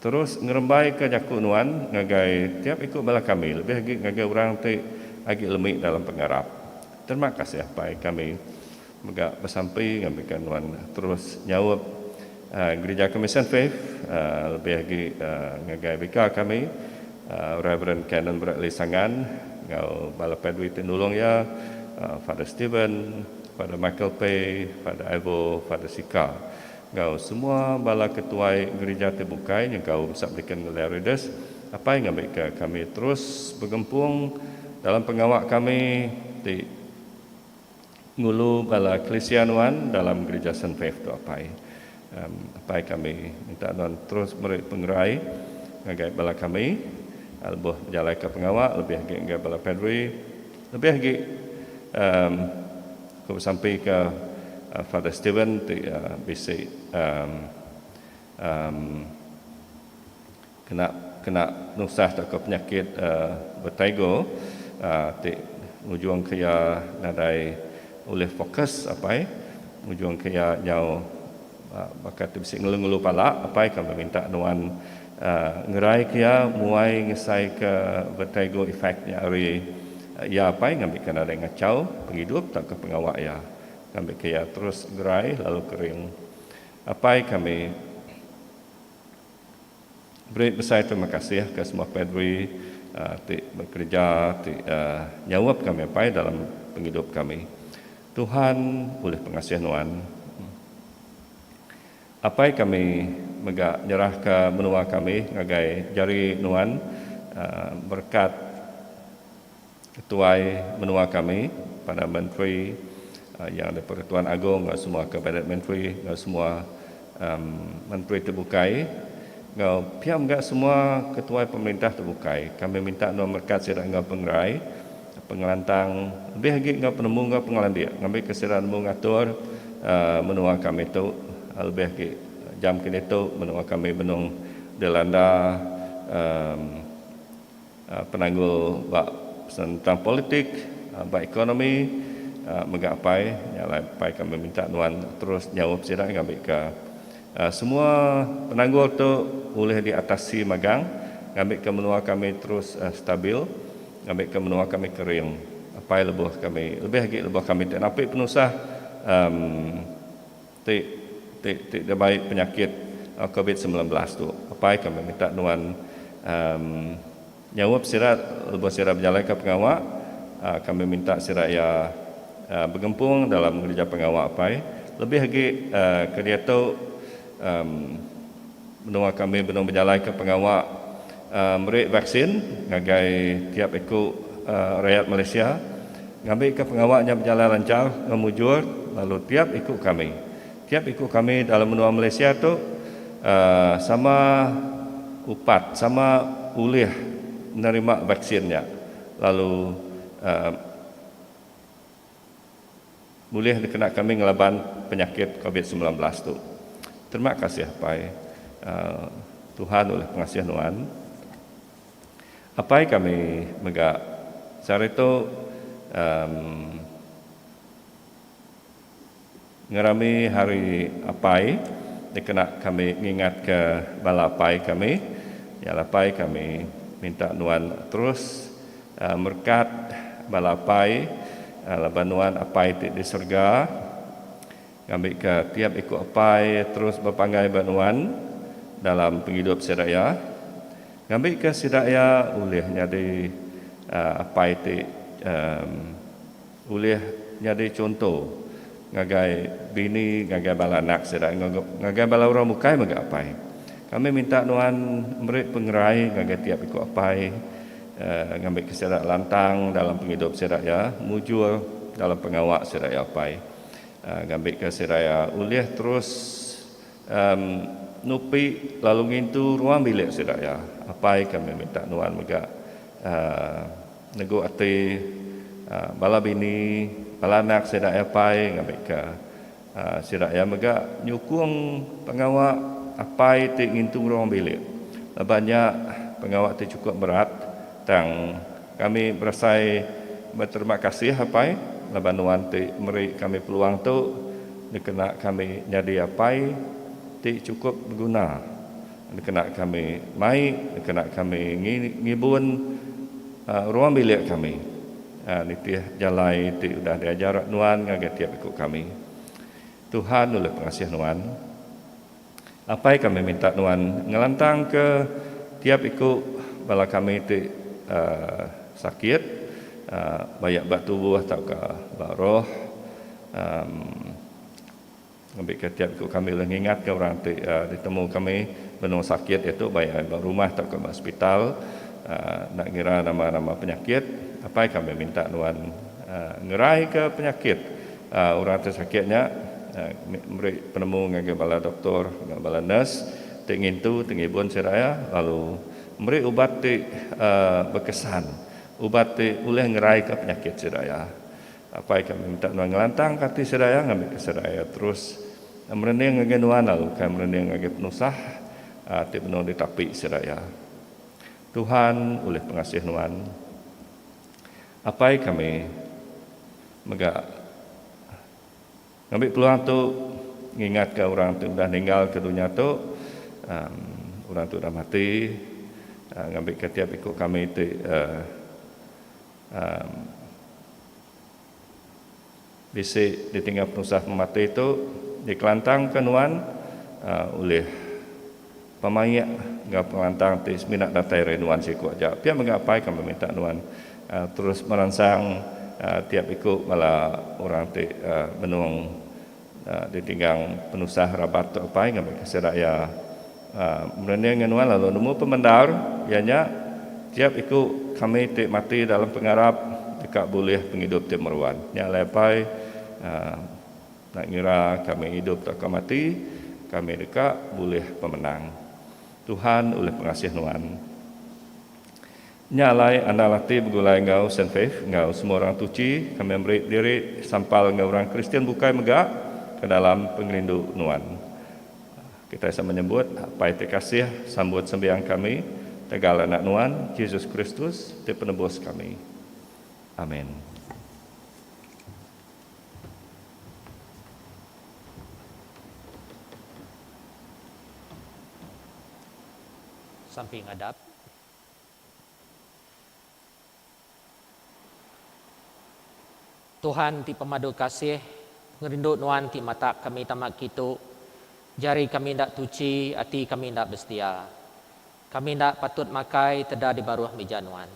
terus ngerembaika jaku nuan ngagai tiap iku bala kami lebih agi ngagai orang ti agi lemi dalam pengarap. Terima kasih Apai kami. Mega besampi ngambika nuan terus nyaup Gerija Komisen Faith lebih agi ngagai bika kami Rev. Canon Bradley Sangan enggau bala padri ti nulung iya, Father Steven, Father Michael Pei, Father Ivo, Father Sika enggau semua bala ketuai gerija ti bukai nyengkaum Subdeacon Ngelia Rides apai ngambika kami terus begempung dalam pengawa kami ti Ngulu bala Kelisia nuan dalam Gerija Saint Faith tu Apai. Apai kami minta nuan terus meri pengerai ngagai bala kami lebuh bejalaika pengawa lebih agi ngagai bala Padri lebih agi ku besampika Father Steven ti bisi Kena kena penusah tauka penyakit vertigo ti ngujungka iya nadai ulih fokus apai ngujungka iya nyau baka ti bisi ngelu-ngelu pala apai kami minta nuan ngeraika iya muai ngesaika vertigo effect nya ari iya apai ngambika nadai ngachau pengidup tauka pengawa iya ngambika iya terus gerai lalu kering apai kami. Beri besai terima kasih ke semua padri ti bekereja ti nyaup kami apai dalam pengidup kami. Tuhan ulih pengasih nuan. Apai kami mega nyerahka menua kami ngagai jari nuan berkat Ketuai Menua kami, Perdana Menteri, Yang di-pertuan Agong enggau semua Kabinet Menteri enggau semua Menteri ti bukai enggau pia mega semua ketuai pemerintah ti bukai, kami minta endur merekat sida enggau pengerai, pengelantang lebih agi enggau penemu enggau pengelandik ngambika sida nemu ngatur menua kami tu lebih agi jam kini tu menua kami benung dilanda. Penanggul ba senentang politik, ba ekonomi mega apai nya alai apai kami minta nuan terus nyaup sida ngambika semua penanggul tu ulih diatasi magang ngambika menua kami terus stabil ngambika menua kami kering apai lebuh kami lebih agi lebuh kami ti napi penusah. Ti ti ti dibai penyakit covid semilan belas tu apai kami minta nuan emm nyaup sida lebuh sida bejalaika pengawa emm kami minta sida iya emm begempung dalam ngereja pengawa apai lebih agi emm kediatu emm. Menua kami benung bejalaika pengawa meri vaksin ngagai tiap iku rayat Malaysia ngambika pengawa nya bejalai lanchar enggau mujur lalu tiap iku kami tiap iku kami dalam menua Malaysia tu sama upat sama ulih nerima vaksin nya lalu. Bulih dikena kami ngelaban penyakit covid semilan belas tu. Terima kasih Apai. Tuhan ulih pengasih nuan. Apai kami mega sehari tu. Em. Ngerami Hari Apai dikena kami ngingatka bala apai kami iya lah apai kami minta nuan terus merekat bala apai laban nuan Apai ti di serega ngambika tiap iku apai terus bepanggai ba nuan dalam pengidup sida iya ngambika sida iya ulih nyadi apai ti Ulih nyadi chunto ngagai bini ngagai bala anak sida enggau ngagai bala orang bukai mega apai. Kami minta nuan meri pengerai ngagai tiap iku apai ngambika sida lantang dalam pengidup sida iya, mujur dalam pengawa sida iya apai ngambika sida iya ulih terus nupi lalu ngintu ruang bilik sida iya apai kami minta nuan mega. Negu ati bala bini, bala anak sida iya pai ngambika sida iya mega nyukung pengawa apai ti ngintu ngerong bilik. Laban nya, pengawa ti chukup berat, tang kami berasai beterima kasih apai laban nuan ti meri kami peluang tu dikena kami nyadi apai ti chukup beguna. Dikena kami mai, dikena kami ngibun ruang bilik kami nitih jalai ti udah diajar nuan ngagai tiap iku kami. Tuhan ulih pengasih nuan. Apai kami minta nuan ngelantangka tiap iku bala kami ti sakit, bayak ba tubuh tauka ba roh. Amm. Ngambika tiap iku kami ulih ngingatka orang ti ditemu kami benung sakit iya tu baik ai ba rumah tauka ba hospital enda ngira nama-nama penyakit. Apai kami minta nuan ngeraika penyakit orang ti sakit nya meri penemu ngagai bala doktor enggau bala nurse ti ngintu ti ngibun sida iya lalu meri ubat ti bekesan, ubat ti ulih ngeraika penyakit sida iya. Apai kami minta nuan ngelantangka ati serai iya ngambika serai iya terus merening ngagai nuan lalu ukai merening ngagai penusah ti benung ditapi serai iya. Tuhan ulih pengasih nuan. Apai kami mega ngambi peluang tu ngingatka orang ti udah ninggalka dunya tu, orang ti udah mati, ngambika tiap iku kami ti. Um Bisi ditingga penusah pemati tu dikelantangka nuan Um ulih pemaik enggau pengelantang ti semina datai ari nuan siku aja. Pia mega apai kami minta nuan Um terus meransang Um tiap iku bala orang ti Um benung. Ditinggang penusah rabat tu apai ngambika sida iya merening enggau nuan lalu nemu pemendar iya nya tiap iku kami ti mati dalam pengarap deka bulih pengidup ti meruan. Nya alai apai enda ngira kami idup tauka mati kami deka bulih pemenang. Tuhan ulih pengasih nuan. Nya alai anang ati begulai enggau Saint Faith enggau semua orang tuchi kami meri diri sampal enggau orang Kristian bukai mega ke dalam pengerindu nuan. Kitai sama nyebut, Apai ti kasih, sambut sembiang kami tegal Anak nuan, Jesus Kristus, ti Penebus kami. Amin. Sampi ngadap. Tuhan ti pemadu kasih, ngerindu Nuan ti matak kami tama kitu. Jari kami enda tuchi, ati kami enda besetia. Kami enda patut makai teda di baruh mija Nuan.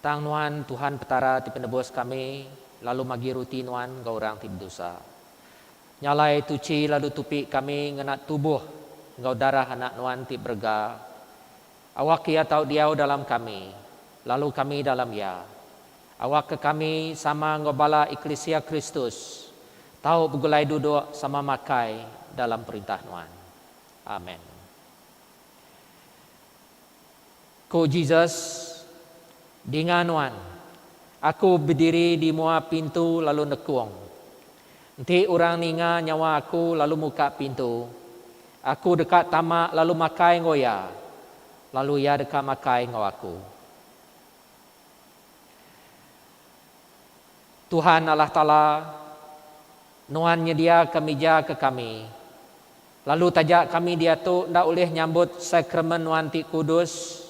Tang Nuan, Tuhan Petara ti penebus kami, lalu magi ruti Nuan enggau orang ti bedosa. Nya alai tuchi lalu tupi kami ngena tubuh enggau darah Anak Nuan ti berega. Awak Iya tau diau dalam kami, lalu kami dalam Iya. Awakka kami, sama enggau bala eklisia Kristus, tau begulai duduk sama makai dalam Perintah Nuan. Amen. Ku Jesus, Dinga nuan, Aku bediri di mua pintu lalu nekung. Enti orang ninga nyawa Aku lalu muka pintu, Aku deka tama lalu makai enggau iya, lalu iya deka makai enggau aku. Tuhan Allah Taala, Nuan nyediaka mija ke kami, lalu taja kami diatu enda ulih nyambut Sakramen Nuan ti kudus,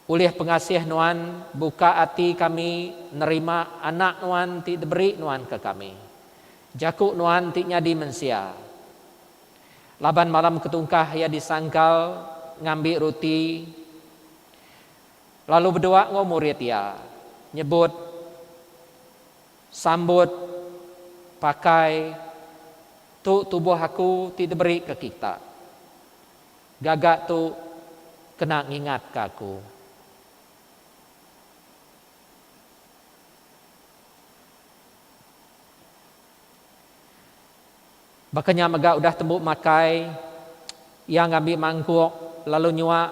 ulih pengasih Nuan buka ati kami nerima Anak Nuan ti diberi Nuan ke kami. Jaku Nuan ti nyadi mensia. Laban malam ketungkah iya disangkal ngambi ruti lalu bedua enggau murid iya nyebut sambut pakai tu tubuh aku ti diberi ke kita. Gaga tu kena ngingat ke aku. Baka nya mega udah tembu makai, iya ngambi mangkuk lalu nyuak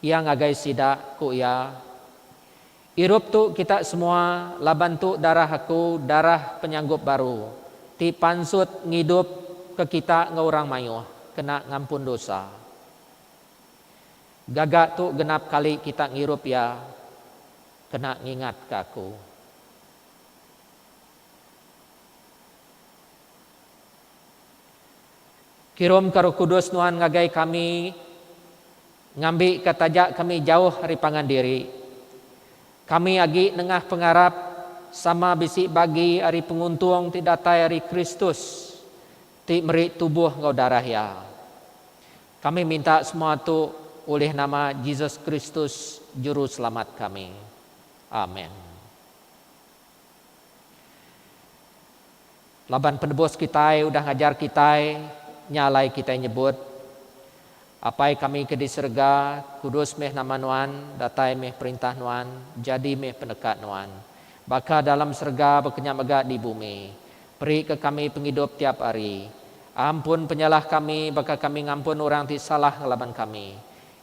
iya ngagai sida, ku iya. Irup tu kita semua laban tu darah aku, darah penyanggup baru, ti pansut ngidup ke kita enggau orang mayuh kena ngampun dosa. Gaga tu genap kali kita ngirup iya kena ngingatka aku. Kirumka Roh Kudus Nuan ngagai kami, ngambika taja kami jauh ari pangan diri. Kami agi nengah pengarap sama bisi bagi ari penguntung ti datai ari Kristus ti meri tubuh enggau darah Iya. Kami minta semua tu ulih nama Jesus Kristus, Juruselamat kami. Amen. Laban Penebus kitai udah ngajar kitai nya alai kitai nyebut, Apai kami ke di serega, kudus meh nama Nuan, datai meh perintah Nuan, jadi meh peneka Nuan, baka dalam serega baka nya mega di bumi. Perika kami pengidup tiap hari. Ampun penyalah kami baka kami ngampun orang ti salah ngelaban kami.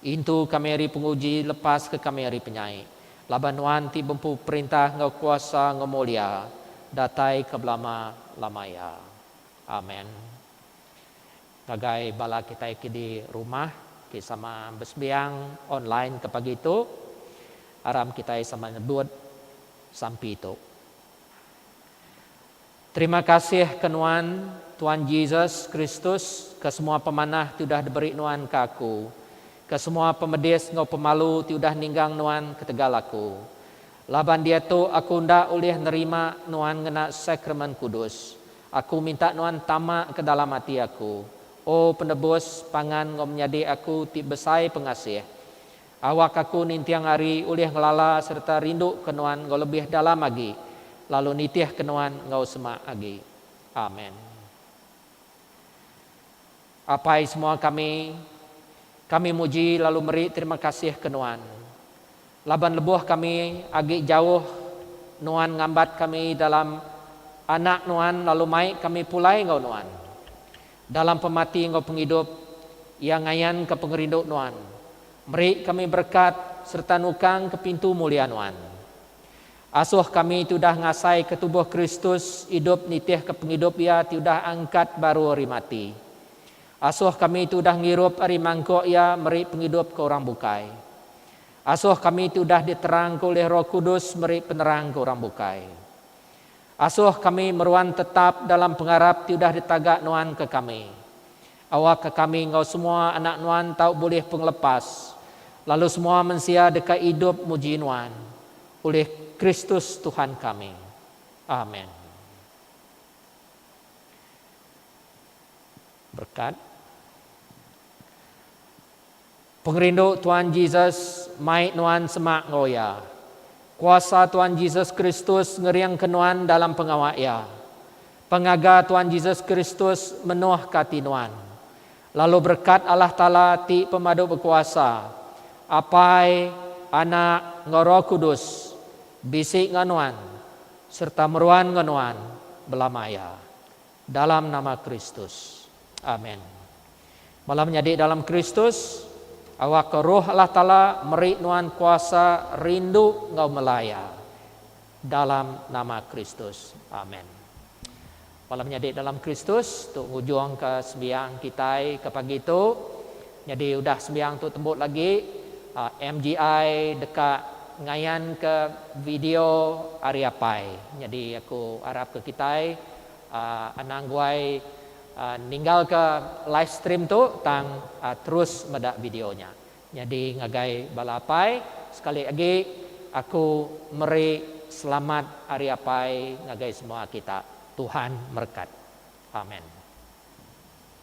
Intu kami ari penguji, lepaska kami ari penyai. Laban Nuan ti bempu perintah enggau kuasa enggau mulia, datai ke belama lama iya. Amen. Ngagai bala kitai ke di rumah ti sama besembiang online ke pagi tu, aram kitai sama nyebut sampi tu. Terima kasih ke nuan, Tuan Jesus Kristus, ke semua pemanah ti udah diberi nuan ke aku, ke semua pemedis enggau pemalu ti udah ninggang nuan ketegal aku. Laban diatu aku enda ulih nerima nuan ngena Sakramen Kudus, aku minta nuan tama ke dalam ati aku, O Penebus, pangan enggau menyadi aku ti besai pengasih. Awak aku ninting ari ulih ngelala sereta rinduka Nuan enggau lebih dalam agi, lalu nitihka Nuan enggau semak agi. Amen. Apai semua kami, kami muji lalu meri terima kasih ke Nuan, laban lebuh kami agi jauh, Nuan ngambat kami dalam Anak Nuan lalu mai kami pulai enggau Nuan. Dalam pemati enggau pengidup, Iya ngayanka pengerindu Nuan. Meri kami berekat sereta nukangka pintu mulia Nuan. Asuh kami ti udah ngasaika tubuh Kristus idup nitihka pengidup Iya ti udah angkat baru ari mati. Asuh kami ti udah ngirup ari mangkuk Iya meri pengidup ke orang bukai. Asuh kami ti udah diterangka ulih Roh Kudus meri penerang ke orang bukai. Asuh kami meruan tetap dalam pengarap ti udah ditaga Nuan ke kami. Awakka kami enggau semua anak Nuan tau bulih pengelepas, lalu semua mensia deka idup muji Nuan, ulih Kristus Tuhan kami. Amen. Berkat. Pengerindu Tuan Jesus mai nuan semak enggau Iya. Kuasa Tuan Jesus Kristus ngeringka nuan dalam pengawa Iya. Pengaga Tuan Jesus Kristus menohka ati nuan. Lalu berekat Allah Taala ti pemadu bekuasa, Apai, Anak, enggau Roh Kudus, bisi enggau nuan sereta meruan enggau nuan belama iya. Dalam nama Kristus. Amen. Bala menyadi dalam Kristus, awakka Roh Allah Taala meri nuan kuasa rindu enggau melaya. Dalam nama Kristus. Amen. Bala menyadi dalam Kristus, tu ngujungka sembiang kitai ke pagi tu. Nyadi udah sembiang tu tembu lagi, MGI deka ngayanka video ari apai. Nyadi aku arapka kitai Anang guai ninggalka live stream tu tang terus meda video nya. Nyadi ngagai bala apai sekali agi aku meri selamat hari apai ngagai semua kita. Tuhan merekat. Amen.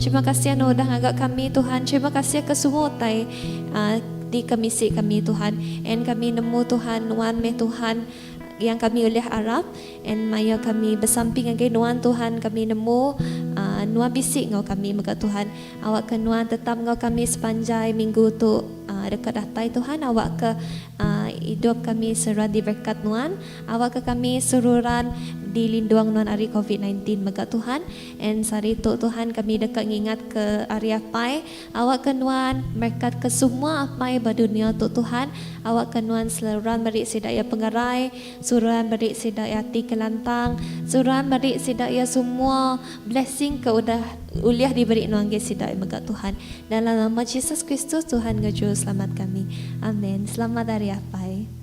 Terima kasih anu udah ngaga kami Tuhan terima kasih ke semua utai di kemisi kami Tuhan and kami nemu Tuhan nuan meh Tuhan yang kami ulih arap and maya kami besamping ngagai nuan Tuhan kami nemu nuan bisi enggau kami mega Tuhan awak ke nuan tetap enggau kami sepanjai minggu tu deka datai Tuhan awak ke idup kami seruran diberkat nuan awak ke kami seruran dilindung nuan ari covid nineteen mega Tuhan. And sehari tu Tuhan kami deka ngingatka ari apai, awakka nuan merekatka semua apai ba dunia tu Tuhan, awakka nuan seruran meri sida iya pengerai, seruran meri sida iya ati ke lantang, seruran meri sida iya semua blessing ke udah ulih diberi nuan ngagai sida mega Tuhan. Dalam nama Jesus Kristus Tuhan enggau Juruselamat kami. Amen. Selamat Hari Apai.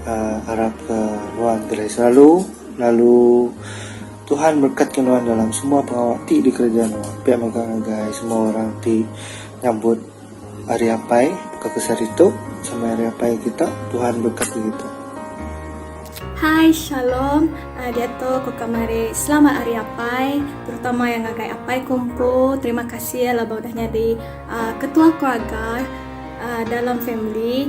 Uh arap ke nuan gelai selalu lalu Tuhan berkat ke nuan dalam semua pengawa ti di kereja nuan pia mega ngagai semua orang ti nyambut Hari Apai baka ke sehari tu sama Hari Apai kita Tuhan berkati kita. Hai shalom diatu ko kamari selamat hari apai terutama iya ngagai apai ko empu terima kasih laban udah nyadi ketua keluarga dalam family.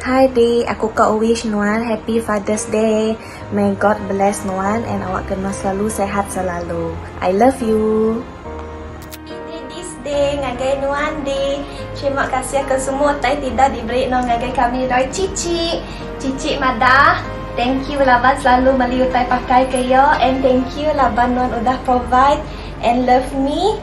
Hi Dee, aku ka wish nuan happy fathers day. May God bless nuan and awak kena selalu sehat selalu. I love you. Iti Dees Day ngagai nuan Dee. Terima kasih ke semua utai ti dah diberi no ngagai kami doi Cici. Cici madah, thank you laban selalu meli utai pakai ke iyo and thank you laban nuan udah provide and love me.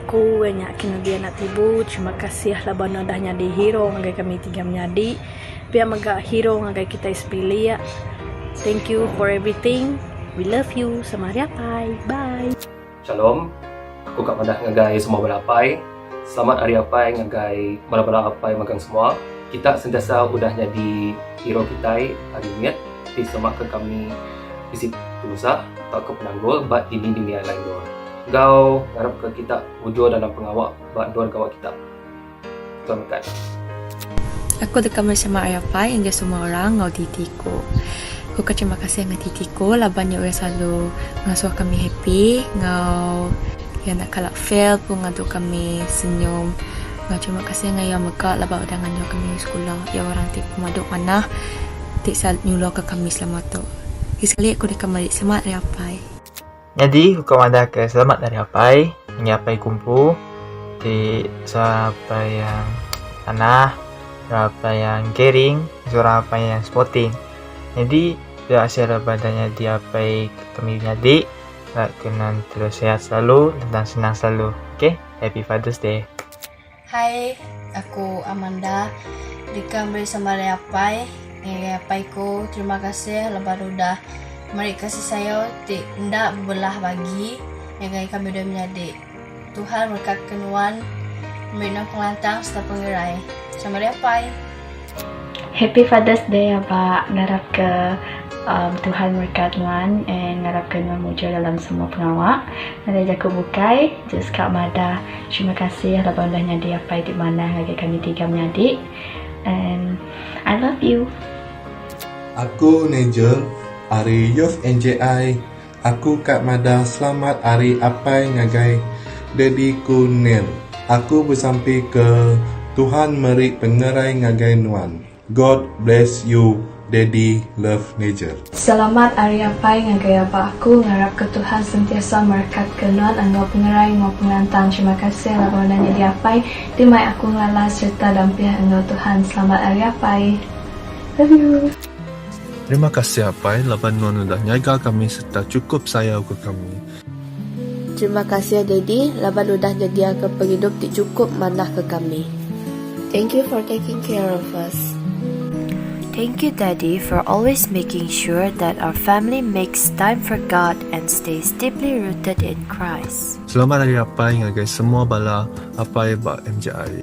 Aku weh nya ke nyadi anak tibu terima kasih lah ba ne udah nyadi hero ngagai kami tiga menyadi pia mega hero ngagai kitai sebilik thank you for everything we love you sama hari apai bye. Shalom. Aku ka madah ngagai semua bala apai. Selamat Hari Apai ngagai bala-bala apai magang semua. Kita sentiasa udah nyadi hero kitai ari mit ti selamat ka kami bisi penusah tauka penanggul ba dini-dini alai endur. Enggau ngarapka kita mujur dalam pengawa ba endur gawa kita. Tuan mekat. Aku deka mesema ari apai enggau semua orang enggau titi ku. Ku ka terima kasih enggau titi ku laban iya ulih selalu ngasuh kami happy enggau iya enda kala fail pun ngadu kami senyum. Enggau terima kasih enggau iya mega laban udah ngajar kami ari sekula. Iya orang ti pemadu manah ti selalu nyulurka kami selama tu. Lagi sekali aku deka meri selamat ari apai. Nyadi uka madah ke selamat ari apai ngi apai ku empu ti seorang apai yang tanah, seorang apai yang caring, seorang apai yang sporting. Nyadi dia asil badan nyadi apai kami nyadi rak ke nan terus sihat selalu dan senang selalu. Okay, happy father's day. Hai, aku Amanda. Deka meri sama ari apai ngagai apai ku terima kasih laban udah meri kasih sayau ti enda bebelah bagi ngagai kami dua menyadi. Tuhan berekatka nuan meri nuan pengelantang sereta pengerai. Sama ari apai. Happy Father's Day aba ngarap ke Tuhan merekat nuan and ngarap ke nuan mujur dalam semua pengawa. Nadai jaku bukai, just ka madah terima kasih laban udah nyadi apai ti manah ngagai kami tiga menyadi and I love you. Aku Nigel ari Youth NJI. Aku ka madah selamat ari apai ngagai daddy ku Nell. Aku besampi ke Tuhan meri pengerai ngagai nuan. God bless you daddy love nager. Selamat ari apai ngagai aba aku ngarap ke Tuhan sentiasa merekat ke nuan enggau pengerai enggau pengelantang terima kasih laban udah nyadi apai ti mai aku ngelala sereta dampih enggau Tuhan selamat ari apai love you. Terima kasih Apai laban nuan udah nyaga kami serta chukup sayau ke kami. Terima kasih Daddy laban udah nyediaka pengidup ti chukup manah ke kami. Thank you for taking care of us. Thank you Daddy for always making sure that our family makes time for God and stays deeply rooted in Christ. Selamat Hari Apai ngagai semua bala Apai ba MJI.